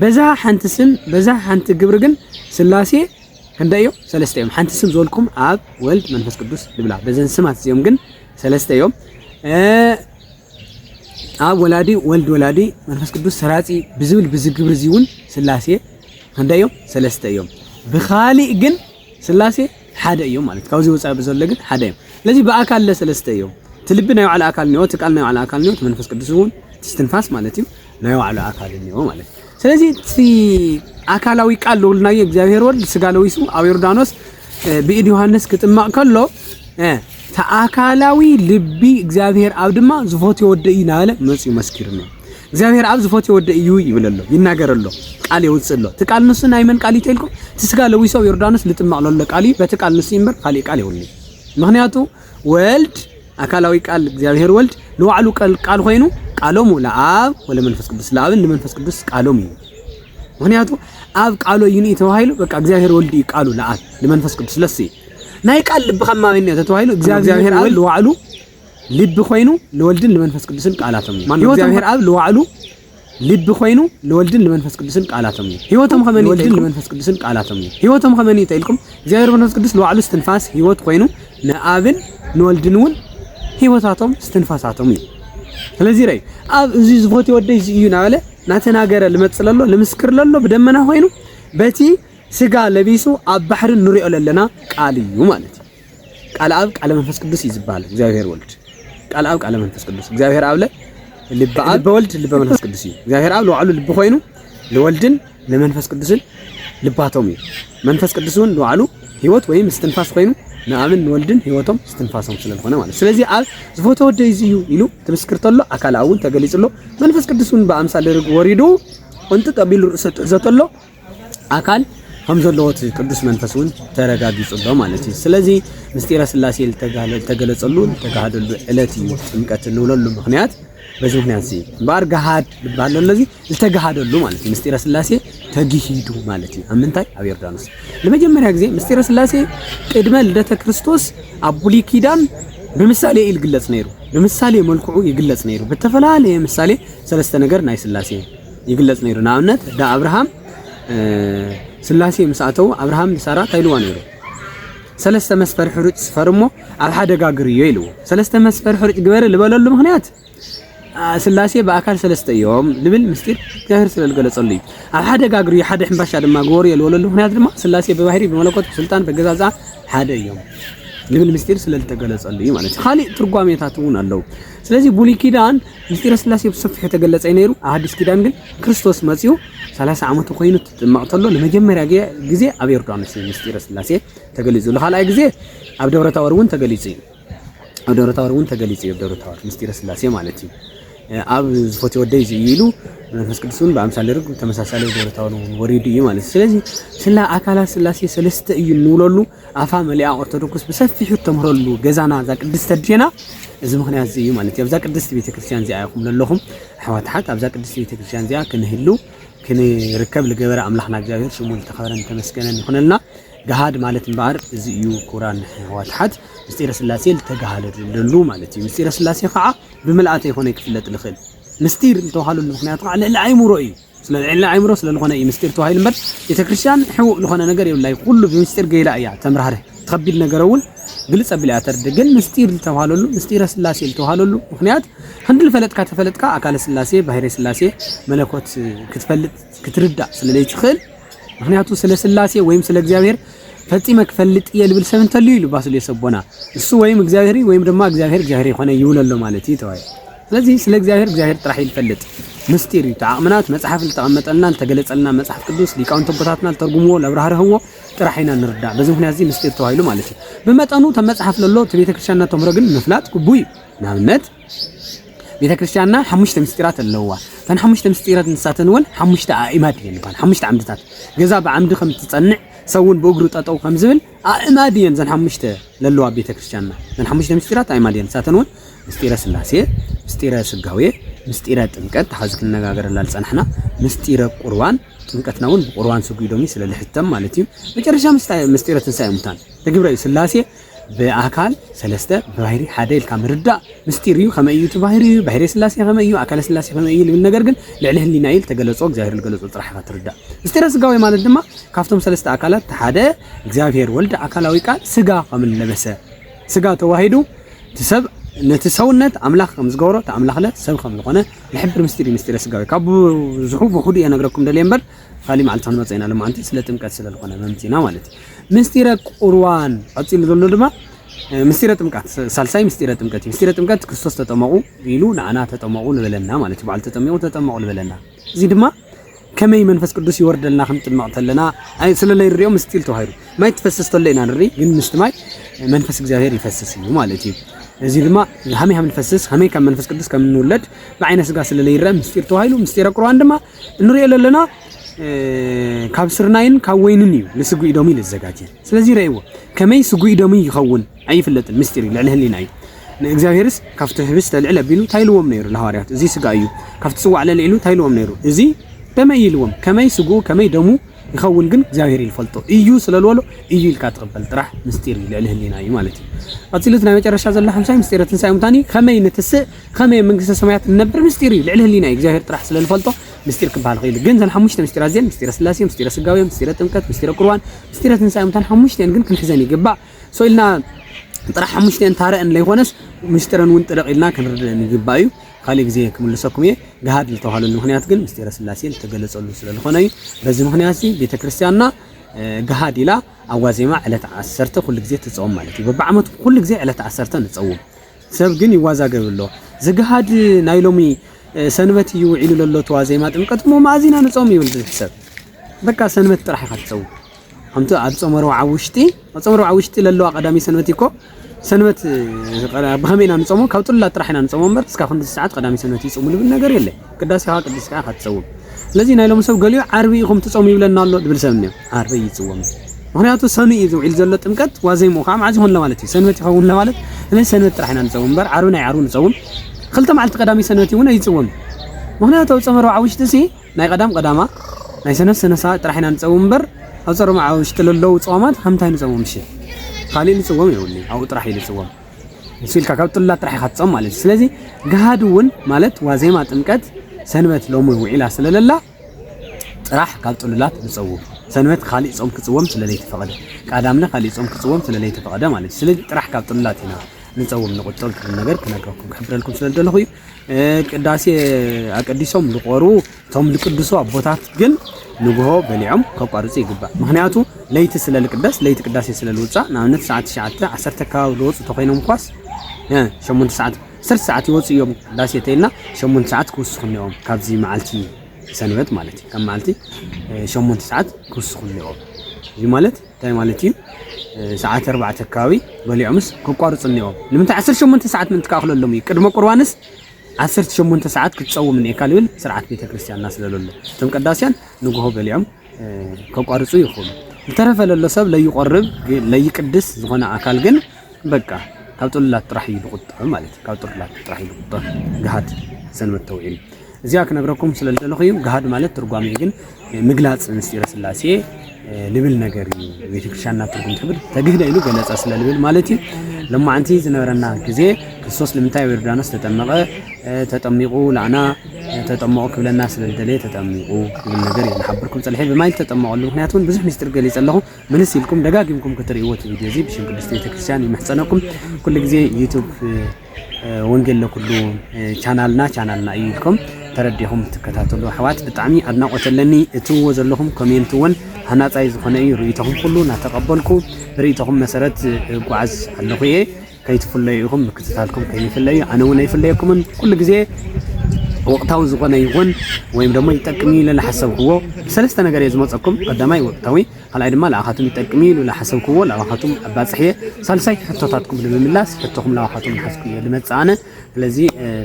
በዛ ሓንቲ ስም በዛ ሓንቲ ግብሪ ግን ስላሴ ክንደይ እዮም? ሰለስተ እዮም። ሓንቲ ስም ዝበልኩም ኣብ ወልድ መንፈስ ቅዱስ ንብላ። በዘን ስማት እዚኦም ግን ሰለስተ እዮም። ኣብ ወላዲ ወልድ ወላዲ መንፈስ ቅዱስ ሰራጺ ብዝብል ብዚ ግብሪ እዚ እውን ስላሴ ክንደይ እዮም? ሰለስተ እዮም። ብኻሊእ ግን ስላሴ ሓደ እዮም ማለት ካብዚ ወፃኢ ብዘሎ ግን ሓደ እዮም። ስለዚ ብኣካል ለሰለስተ እዮም። እቲ ልቢ ናይ ባዕሉ ኣካል እኒኦ፣ እቲ ቃል ናይ ባዕሉ ኣካል እኒኦ፣ እቲ መንፈስ ቅዱስ እውን እቲ እስትንፋስ ማለት እዩ ናይ ባዕሉ ኣካል እኒኦ ማለት እዩ። ስለዚ እቲ ኣካላዊ ቃል ዝብልናዮ እግዚኣብሔር ወልድ ስጋ ለዊሱ ኣብ ዮርዳኖስ ብኢድ ዮሃንስ ክጥመቕ ከሎ እቲ ኣካላዊ ልቢ እግዚኣብሔር ኣብ ድማ ዝፈትዮ ወደይ እናበለ መፅኡ መስኪሩና እግዚኣብሔር ኣብ ዝፈትዮ ወደይ እዩ ይብል ኣሎ ይናገር ኣሎ ቃል የውፅእ ኣሎ እቲ ቃል ንሱ ናይ መን ቃል እዩ ተልኩም እቲ ስጋ ለዊሶ ኣብ ዮርዳኖስ ልጥመቕ ለሎ ቃል እዩ በቲ ቃል ንሱ እምበር ካሊእ ቃል የብሉ ምክንያቱ ወልድ ኣካላዊ ቃል እግዚኣብሔር ወልድ ንባዕሉ ቃል ኮይኑ ቃሎሙ ለኣብ ወለመንፈስ ቅዱስ ለኣብን ንመንፈስ ቅዱስ ቃሎም እዩ ምክንያቱ ኣብ ቃሎ ይንኢ ተባሂሉ በቃ እግዚኣብሔር ወልድ እዩ ቃሉ ለኣብ ንመንፈስ ቅዱስ ለስ እዩ ናይ ቃል ልብኻ ማበኛ ተተባሂሉ እግዚኣብሔር ኣብ ንባዕሉ ልቢ ኮይኑ ለወልድን ለመንፈስ ቅዱስን ቃላቶም እዩ ማን እግዚአብሔር ኣብ ለዋዕሉ ልቢ ኮይኑ ለወልድን ለመንፈስ ቅዱስን ቃላቶም እዩ ህይወቶም ከመን ለወልድን ለመንፈስ ቅዱስን ቃላቶም እዩ ህይወቶም ከመን ይተልኩም እግዚአብሔር መንፈስ ቅዱስ ለዋዕሉ ስትንፋስ ህይወት ኮይኑ ንኣብን ንወልድን እውን ህይወታቶም ስትንፋሳቶም እዩ ስለዚህ ረይ ኣብ እዚ ዝፎት ወደይ እዚ እዩ ናበለ ናተናገረ ልመጽእ ለሎ ልምስክር ለሎ ብደመና ኮይኑ በቲ ስጋ ለቢሱ ኣብ ባሕሪ ንሪኦ ለለና ቃል እዩ ማለት እዩ ቃል ኣብ ቃለ መንፈስ ቅዱስ እዩ ዝበሃል። እግዚኣብሔር ወልድ ቃል ኣብ ቃለ መንፈስ ቅዱስ እግዚኣብሔር ኣብለ ልበ ኣብ ልበ ወልድ ልበ መንፈስ ቅዱስ እዩ። እግዚኣብሔር ኣብ ለዋዕሉ ልቢ ኮይኑ ንወልድን ንመንፈስ ቅዱስን ልባቶም እዩ። መንፈስ ቅዱስ እውን ለዋዕሉ ህይወት ወይም እስትንፋስ ኮይኑ ንኣብን ንወልድን ህይወቶም እስትንፋሶም ስለዝኾነ ማለት ስለዚ ኣብ ዝፎተ ወደ እዚ እዩ ኢሉ ትምስክር ተሎ ኣካል እውን ተገሊጹ ኣሎ። መንፈስ ቅዱስ እውን ብኣምሳል ርግ ወሪዱ እንጥጥ ኣቢሉ ርእሰ ትሕዘ ተሎ ኣካል ከም ዘለዎ እቲ ቅዱስ መንፈስ እውን ተረጋጊጹ ኣሎ ማለት እዩ። ስለዚ ምስጢረ ስላሴ ዝተገለጸሉ ዝተጋሃደሉ ዕለት እዩ ጥምቀት እንብለሉ ምክንያት በዚ ምክንያት እዚ እምበኣር ገሃድ ዝበሃል ዘሎ እዚ ዝተገሃደሉ ማለት እዩ። ምስጢረ ስላሴ ተግሂዱ ማለት እዩ። ኣብ ምንታይ? ኣብ ዮርዳኖስ ንመጀመርያ ግዜ ምስጢረ ስላሴ ቅድመ ልደተ ክርስቶስ ኣብ ብሉይ ኪዳን ብምሳሌ እዩ ዝግለጽ ነይሩ። ብምሳሌ መልክዑ ይግለጽ ነይሩ። ብተፈላለየ ምሳሌ ሰለስተ ነገር ናይ ስላሴ ይግለጽ ነይሩ። ንኣብነት ዳ ኣብርሃም ስላሴ ምስ ኣተው ኣብርሃም ንሳራ እንታይ ኢልዋ ነይሩ? ሰለስተ መስፈር ሕሩጭ ስፈር እሞ ኣብ ሓደ ጋግርዮ ኢልዎ። ሰለስተ መስፈር ሕሩጭ ግበሪ ዝበለሉ ምክንያት ስላሴ ብኣካል ሰለስተ እዮም ልብል ምስጢር እግዚኣብሔር ስለ ዝገለጸሉ እዩ። ኣብ ሓደ ጋግርዮ ሓደ ሕንባሻ ድማ ግበርዮ ዝበለሉ ምክንያት ድማ ስላሴ ብባህሪ ብመለኮት ብስልጣን በገዛዝኣ ሓደ እዮም ልብል ምስጢር ስለ ዝተገለጸሉ እዩ ማለት እዩ። ካሊእ ትርጓሜታት እውን ኣለዉ። ስለዚህ ብሉይ ኪዳን ምስጢረ ስላሴ ብሰፊሑ ተገለጸ እዩ ነይሩ። ኣብ ሓዲስ ኪዳን ግን ክርስቶስ መጺኡ ሰላሳ ዓመቱ ኮይኑ ትጥመቕ ተሎ ንመጀመርያ ግዜ ኣብ ዮርዳኖስ እዩ ምስጢረ ስላሴ ተገሊጹ። ንኻልኣይ ግዜ ኣብ ደብረ ታወር እውን ተገሊጹ እዩ። ኣብ ደብረ ታወር እውን ተገሊጹ እዩ። ደብረ ታወር ምስጢረ ስላሴ ማለት እዩ። ኣብ ዝፈትዮ ወደይ እዚ እዩ ኢሉ መንፈስ ቅዱስ እውን ብኣምሳለ ርግብ ተመሳሳሊ ደብረ ታወር ወሪዱ እዩ ማለት እዩ። ስለዚ ስላ ኣካላት ስላሴ ሰለስተ እዩ እንብለሉ ኣፋ መሊኣ ኦርቶዶክስ ብሰፊሑ እተምህረሉ ገዛና እዛ ቅድስቲ ኣዴና እዚ ምክንያት እዚ እዩ ማለት እዩ። ኣብዛ ቅድስቲ ቤተክርስትያን እዚኣ ኢኹም ዘለኹም ኣሕዋት ኣሓት፣ ኣብዛ ቅድስቲ ቤተክርስትያን እዚኣ ክንህሉ ክንርከብ ዝገበረ ኣምላኽና እግዚኣብሔር ሽሙ ዝተኸበረን ተመስገነን ይኹነልና። ገሃድ ማለት እምበኣር እዚ እዩ ክቡራን ኣሕዋት ኣሓት፣ ምስጢረ ስላሴ ዝተጋሃለሉ ማለት እዩ። ምስጢረ ስላሴ ከዓ ብምልኣተ ይኾነ ክፍለጥ ዝኽእል ምስጢር እንተባሃለሉ ምክንያቱ ከዓ ልዕሊ ኣይምሮ እዩ። ስለልዔልና ኣእምሮ ስለልኾነ እዩ ምስጢር ተባሂሉ እምበር ቤተክርስትያን ሕቡእ ልኾነ ነገር የብላይ ኹሉ ብምስጢር ገይራ እያ ተምራህርህ እቲ ኸቢድ ነገረ እውን ግልፅ ኣብላ እያ ተርድእ ግን ምስጢር ልተብሃለሉ ምስጢረ ስላሴ ልተብሃለሉ ምኽንያት ኽንዲ ልፈለጥካ ተፈለጥካ ኣካለ ስላሴ ባህሬ ስላሴ መለኮት ክትፈልጥ ክትርዳእ ስለለይትኽእል ምኽንያቱ ስለ ስላሴ ወይም ስለ እግዚኣብሔር ፈፂመ ክፈልጥ እየ ልብል ሰብ እንተልዩ ኢሉ ባስልዮስ ኣቦና እሱ ወይም እግዚኣብሔር ወይም ድማ እግዚኣብሔር እግዚኣብሔር ይኾነ ይብለሎ ማለት እዩ ተባሂሉ ስለዚ ስለ እግዚኣብሔር እግዚኣብሔር ጥራሕ እዩ ልፈልጥ ምስጢር እዩ እቲ ዓቕምና እቲ መጽሓፍ ልተቐመጠልና ልተገለጸልና መጽሓፍ ቅዱስ ሊቃውንቲ ኣቦታትና ልተርጉምዎ ለብራህርህዎ ጥራሕ ኢና ንርዳእ በዚ ምክንያት እዚ ምስጢር ተባሂሉ ማለት እዩ ብመጠኑ ተም መጽሓፍ ለሎ እቲ ቤተ ክርስቲያንና ተምህሮ ግን ምፍላጥ ግቡእ እዩ ንኣብነት ቤተ ክርስቲያንና ሓሙሽተ ምስጢራት ኣለውዋ እተን ሓሙሽተ ምስጢራት ንሳተን እውን ሓሙሽተ ኣእማድ እየን ይበሃል ሓሙሽተ ዓምድታት ገዛ ብዓምዲ ከም ትጸንዕ ሰውን ብእግሩ ጠጠው ከም ዝብል ኣእማድ እየን እዘን ሓሙሽተ ለለዋ ኣብ ቤተ ክርስቲያንና እዘን ሓሙሽተ ምስጢራት ኣእማድ እየን ንሳተን እውን ምስጢረ ስላሴ ምስጢረ ስጋዌ ምስጢረ ጥምቀት ተሓዚ ክንነጋገረላ ዝፀናሕና ምስጢረ ቁርባን ጥምቀትና እውን ብቁርባን ስጉ ኢዶሚ ስለ ልሕተም ማለት እዩ መጨረሻ ምስጢረ ትንሳኤ ሙታን ተግብረ እዩ ስላሴ ብኣካል ሰለስተ ብባህሪ ሓደ ኢልካ ምርዳእ ምስጢር እዩ ከመይ እዩ እቲ ባህሪ እዩ ባህሪ ስላሴ ከመይ እዩ ኣካለ ስላሴ ከመይ እዩ ልብል ነገር ግን ልዕሊ ህሊና እዩ ዝተገለጾ እግዚኣብሔር ዝገለጾ ጥራሕ ኢኻ ትርዳእ ምስጢረ ስጋዌ ማለት ድማ ካብቶም ሰለስተ ኣካላት እቲ ሓደ እግዚኣብሔር ወልድ ኣካላዊ ቃል ስጋ ከም ለበሰ ስጋ ተዋሂዱ እቲ ሰብ ነቲ ሰውነት ኣምላኽ ከም ዝገብሮ እቲ ኣምላኽለ ሰብ ከም ዝኾነ ዝሕብር ምስጢር እዩ ምስጢረ ስጋዊ ካብ ብዙሑ ብኹዱ እየ ነግረኩም ደልየ እምበር ካሊእ መዓልቲ ክንመፀ ኢና ሎማዓንቲ ስለ ጥምቀት ስለ ዝኾነ መምፂና ማለት እዩ ምስጢረ ቁርዋን ቀፂሉ ዘሎ ድማ ምስጢረ ጥምቀት ሳልሳይ ምስጢረ ጥምቀት እዩ። ምስጢረ ጥምቀት ክርስቶስ ተጠመቑ ኢሉ ንዓና ተጠመቑ ልበለና ማለት እዩ። በዓሉ ተጠሚቑ ተጠመቑ ልበለና። እዚ ድማ ከመይ መንፈስ ቅዱስ ይወርደልና ክንጥመቕ ተለና ኣይ ስለለይ ንሪኦ ምስጢር ተባሂሉ ማይ ትፈስስ ተሎ ኢና ንርኢ፣ ግን ምስቲ ማይ መንፈስ እግዚኣብሔር ይፈስስ እዩ ማለት እዩ። እዚ ድማ ሃመይ ሃም ንፈስስ ሃመይ ካብ መንፈስ ቅዱስ ከም ንውለድ ብዓይነ ስጋ ስለለይ ይረአ ምስጢር ተባሂሉ ምስጢረ ቁርባን ድማ እንሪኦ ዘለና ካብ ስርናይን ካብ ወይንን እዩ ንስጉኢ ዶሚ ልዘጋጀ ስለዚ ረእይዎ ከመይ ስጉኢ ዶሚ ይኸውን ኣይፍለጥን ምስጢር እዩ ልዕሊ ህሊና እዩ ንእግዚኣብሔርስ ካብቲ ህብስተ ልዕል ኣቢሉ እንታይ ኢልዎም ነይሩ ንሃዋርያት እዚ ስጋ እዩ ካብቲ ጽዋዕ ልዕል ኢሉ እንታይ ኢልዎም ነይሩ እዚ ደመይ እዩ ኢልዎም ከመይ ስጉኡ ከመይ ደሙ ይኸውን ግን እግዚኣብሔር ይፈልጦ እዩ ስለልበሎ እዩ ኢልካ ትቕበል ጥራሕ ምስጢር እዩ ልዕሊ ህሊና እዩ ማለት እዩ ቀፂሉት ናይ መጨረሻ ዘሎ ሓምሳይ ምስጢረ ትንሳኤ ሙታን እዩ ከመይ ንትስእ ከመይ ኣብ መንግስተ ሰማያት ንነብር ምስጢር እዩ ልዕሊ ህሊና እዩ እግዚኣብሔር ጥራሕ ስለ ዝፈልጦ ምስጢር ክበሃል ኽኢሉ ግን ዘን ሓሙሽተ ምስጢራት እዚኤን ምስጢረ ስላሴ ምስጢረ ስጋዌ ምስጢረ ጥምቀት ምስጢረ ቁርባን ምስጢረ ትንሳኤ ሙታን ሓሙሽተኤን ግን ክንሕዘን ይግባእ ሶ ኢልና ጥራሕ ሓሙሽተኤን ታረአን ለይኮነስ ምስጢረን እውን ጥርቕ ኢልና ክንርድእን ይግባእ እዩ ካልእ ግዜ ክምልሰኩም እየ ገሃድ ዝተባሃለሉ ምክንያት ግን ምስጢረ ስላሴ ዝተገለጸሉ ስለ ዝኾነ እዩ በዚ ምክንያት እዚ ቤተ ክርስቲያንና ገሃድ ኢላ ኣብ ዋዜማ ዕለት ዓሰርተ ኩሉ ግዜ ትጸውም ማለት እዩ በብዓመቱ ኩሉ ግዜ ዕለት ዓሰርተ ንጸውም ሰብ ግን ይዋዛገብ ኣሎ ዝግሃድ ናይ ሎሚ ሰንበት እዩ ውዒሉ ለሎ ተዋዜማ ጥምቀት እሞ መኣዝ ኢና ንጾም ይብል ዝሕሰብ በቃ ሰንበት ጥራሕ ኢኻ ትጸውም ከምቲ ኣብ ጾመ ረብዓ ውሽጢ ኣብ ጾመ ረብዓ ውሽጢ ለለዋ ቀዳሚ ሰንበት እኮ ሰንበት ብኸመይ ኢና ንጾሞ ካብ ጥሉላት ጥራሕ ኢና ንጾሞ እምበር እስካብ ክንድዚ ሰዓት ቀዳሚ ሰንበት ይጾሙ ልብል ነገር የለን ቅዳሴ ከዓ ቅድስት ከዓ ክትፀውም ስለዚ ናይ ሎሚ ሰብ ገሊኡ ዓርቢ ኢኹም ትፀሙ ይብለና ኣሎ ድብል ሰብ እኒኦ ዓርቢ እዩ ዝፅወም ምክንያቱ ሰኑ እዩ ዝውዒል ዘሎ ጥምቀት ዋዜምኡ ከዓ መዓዝ ይኾን ለማለት እዩ ሰንበት ይኸውን ለማለት ስለዚ ሰንበት ጥራሕ ኢና ንፀውም እምበር ዓርቢ ናይ ዓርቢ ንፀውም ክልተ መዓልቲ ቀዳሚ ሰንበት እውን ኣይፅወም ምክንያቱ ኣብ ፀመ ረብዓ ውሽጢ ሲ ናይ ቀዳም ቀዳማ ናይ ሰነፍ ሰነሳ ጥራሕ ኢና ንፀውም እምበር ኣብ ፀረ መዓ ውሽጢ ለለዉ ፀዋማት ከምታይ ንፀውም እሺ ካልእ ንፅወም የብሉ ኣብኡ ጥራሕ እዩ ንፅወም ንሱ ኢልካ ካብ ጥሉላት ጥራሕ ኢኻ ትጾም ማለት እዩ ስለዚ ገሃድ እውን ማለት ዋዜማ ጥምቀት ሰንበት ሎሚ ውዒላ ስለለላ ጥራሕ ካብ ጥሉላት ንጸውም ሰንበት ካሊእ ጾም ክጽወም ስለለይተፈቐደ ቃዳምነ ካሊእ ጾም ክጽወም ስለለይተፈቐደ ማለት እዩ ስለዚ ጥራሕ ካብ ጥሉላት ኢና ንጸውም ንቁጠብ ትብል ነገር ክነግረኩም ክሕብረልኩም ስለደለኹ እዩ ቅዳሴ ኣቀዲሶም ዝቆርቡ እቶም ልቅድሱ ኣቦታት ግን ንግሆ በሊዖም ከቋርጹ ይግባእ። ምኽንያቱ ለይቲ ስለ ልቅደስ ለይቲ ቅዳሴ ስለ ልውጻእ ንኣብነት ሰዓት ትሽዓተ ዓሰርተ ኣከባቢ ልወጹ ተኾይኖም እኳስ እ ሸሞንተ ሰዓት ዓሰርተ ሰዓት ይወጹ እዮም ቅዳሴ ተይልና ሸሞንተ ሰዓት ክውስኹ እኒኦም ካብዚ መዓልቲ ሰንበት ማለት እዩ ካብ መዓልቲ እ ሸሞንተ ሰዓት ክውስኹ እኒኦም እዚ ማለት እንታይ ማለት እዩ እ ሰዓት ኣርባዕተ ኣከባቢ በሊዖምስ ከቋርጹ እኒኦም ንምንታይ ዓሰርተ ሸሞንተ ሰዓት ምእንቲ ክኣኽለሎም እዩ ቅድመ ቁርባንስ ዓሰርተ ሸሞንተ ሰዓት ክትጸውም እኒኤካ ልብል ስርዓት ቤተ ክርስቲያን እናስለ ለሎ እቶም ቀዳስያን ንግሆ በሊዖም ከቋርጹ ይኽእሉ ዝተረፈ ለሎ ሰብ ለይቆርብ ለይቅድስ ዝኾነ ኣካል ግን በቃ ካብ ጥሉላት ጥራሕ እዩ ዝቁጠብ ማለት እዩ ካብ ጥሉላት ጥራሕ እዩ ዝቁጠብ ግሃድ ሰንበት ተውዒሉ እዚኣ ክነግረኩም ስለ ዝደለኹ እዩ ግሃድ ማለት ትርጓሜ ግን ምግላጽ ምስጢረ ስላሴ ልብል ነገር እዩ ቤተክርስቲያንና ትርጉም ትብል ተግህደ ኢሉ ገለጸ ስለ ልብል ማለት እዩ ለማዓንቲ ዝነበረና ግዜ ክርስቶስ ንምንታይ ኣብ ዮርዳኖስ ተጠመቐ ተጠሚቑ ላዕና ተጠመቑ ክብለና ስለ ዝደለየ ተጠሚቑ ክብል ነገር እዩ ንሓብርኩም ፀልሐ ብማይ ዝተጠመቐሉ ምክንያት እውን ብዙሕ ሚስጢር ገሊፀ ኣለኹ ምልስ ኢልኩም ደጋጊምኩም ክትርእይዎ እቲ ቪድዮ እዚ ብሽም ቅድስቲ ቤተክርስትያን ይምሕፀነኩም ኩሉ ግዜ ዩቱብ ወንጌል ለኩሉ ቻናልና ቻናልና እዩ ኢልኩም ተረዲኹም ትከታተሉ ኣሕዋት ብጣዕሚ ኣድናቆት ኣለኒ። እትብዎ ዘለኹም ኮሜንት እውን ሃናፃይ ዝኾነ እዩ። ርእይቶኹም ኩሉ እናተቀበልኩ ርእይቶኹም መሰረት ጓዓዝ ኣለኹ እየ። ከይትፍለዩ ኢኹም ምክትታልኩም ከይንፍለዩ ኣነ እውን ኣይፍለየኩምን ኩሉ ግዜ ወቅታዊ ዝኾነ ይኹን ወይም ደግሞ ይጠቅም ኢለ ዝሓሰብክዎ ሰለስተ ነገር እየ ዝመፀኩም ቀዳማይ ወቅታዊ ካልኣይ ድማ ልኣኻትም ይጠቅም'ዩ ኢሉ ልሓሰብክዎ ልኣኻትም ኣባጽሕ'የ። ሳልሳይቲ ሕቶታትኩም ንምምላስ ሕቶኹም ልኣኻትም ልሓዝኩ'የ ልመጽእ ኣነ። ስለዚ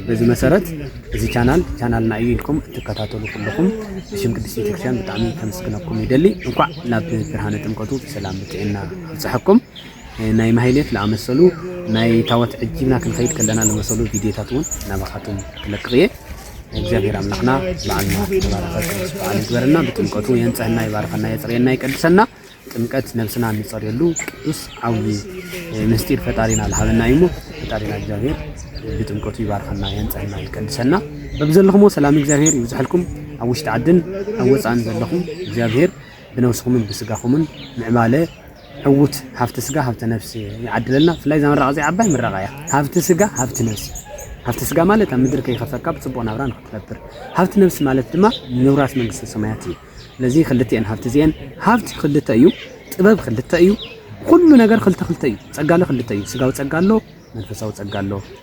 በዚ መሰረት እዚ ቻናል ቻናልና እዩ ኢልኩም እትከታተሉ ኩልኹም ብሽም ቅድስት ቤተክርስቲያን ብጣዕሚ ከምስግነኩም ይደሊ። እንኳዕ ናብ ብርሃነ ጥምቀቱ ብሰላም ብጥዕና ኣብጽሐኩም። ናይ ማህሌት ልኣመሰሉ ናይ ታወት ዕጂብና ክንኸይድ ከለና ልመሰሉ ቪድዮታት እውን ናባኻትም ክለቅቕ እየ። እግዚኣብሔር ኣምላኽና በዓልና ተባረኸ ቅዱስ በዓል ይግበረና። ብጥምቀቱ የንፀህና፣ ይባርኸና፣ የፅርየና፣ ይቀድሰና። ጥምቀት ነብስና እንፀርየሉ ቅዱስ ዓብዪ ምስጢር ፈጣሪና ልሃበና እዩ እሞ ፈጣሪና እግዚኣብሔር ብጥምቀቱ ይባርኸና፣ የንፀህና፣ ይቀድሰና። በብዘለኹሞ ሰላም እግዚኣብሔር ይብዝሐልኩም። ኣብ ውሽጢ ዓድን ኣብ ወፃእን ዘለኹም እግዚኣብሔር ብነብስኹምን ብስጋኹምን ምዕባለ ዕዉት ሃፍቲ ስጋ ሃብተ ነፍሲ ይዓድለልና ብፍላይ እዛ ምረቓ እዚኣ ዓባይ ምረቓ እያ ሃብቲ ስጋ ሃብቲ ነፍሲ ሃብቲ ስጋ ማለት ኣብ ምድሪ ከይኸፈርካ ብጽቡቕ ናብራ ንክትነብር ሃብቲ ነፍሲ ማለት ድማ ምውራስ መንግስተ ሰማያት እዩ ስለዚ ክልቲኤን ሃብቲ እዚኤን ሃብቲ ክልተ እዩ ጥበብ ክልተ እዩ ኩሉ ነገር ክልተ ክልተ እዩ ጸጋለ ክልተ እዩ ስጋዊ ጸጋ ኣሎ መንፈሳዊ ጸጋ ኣሎ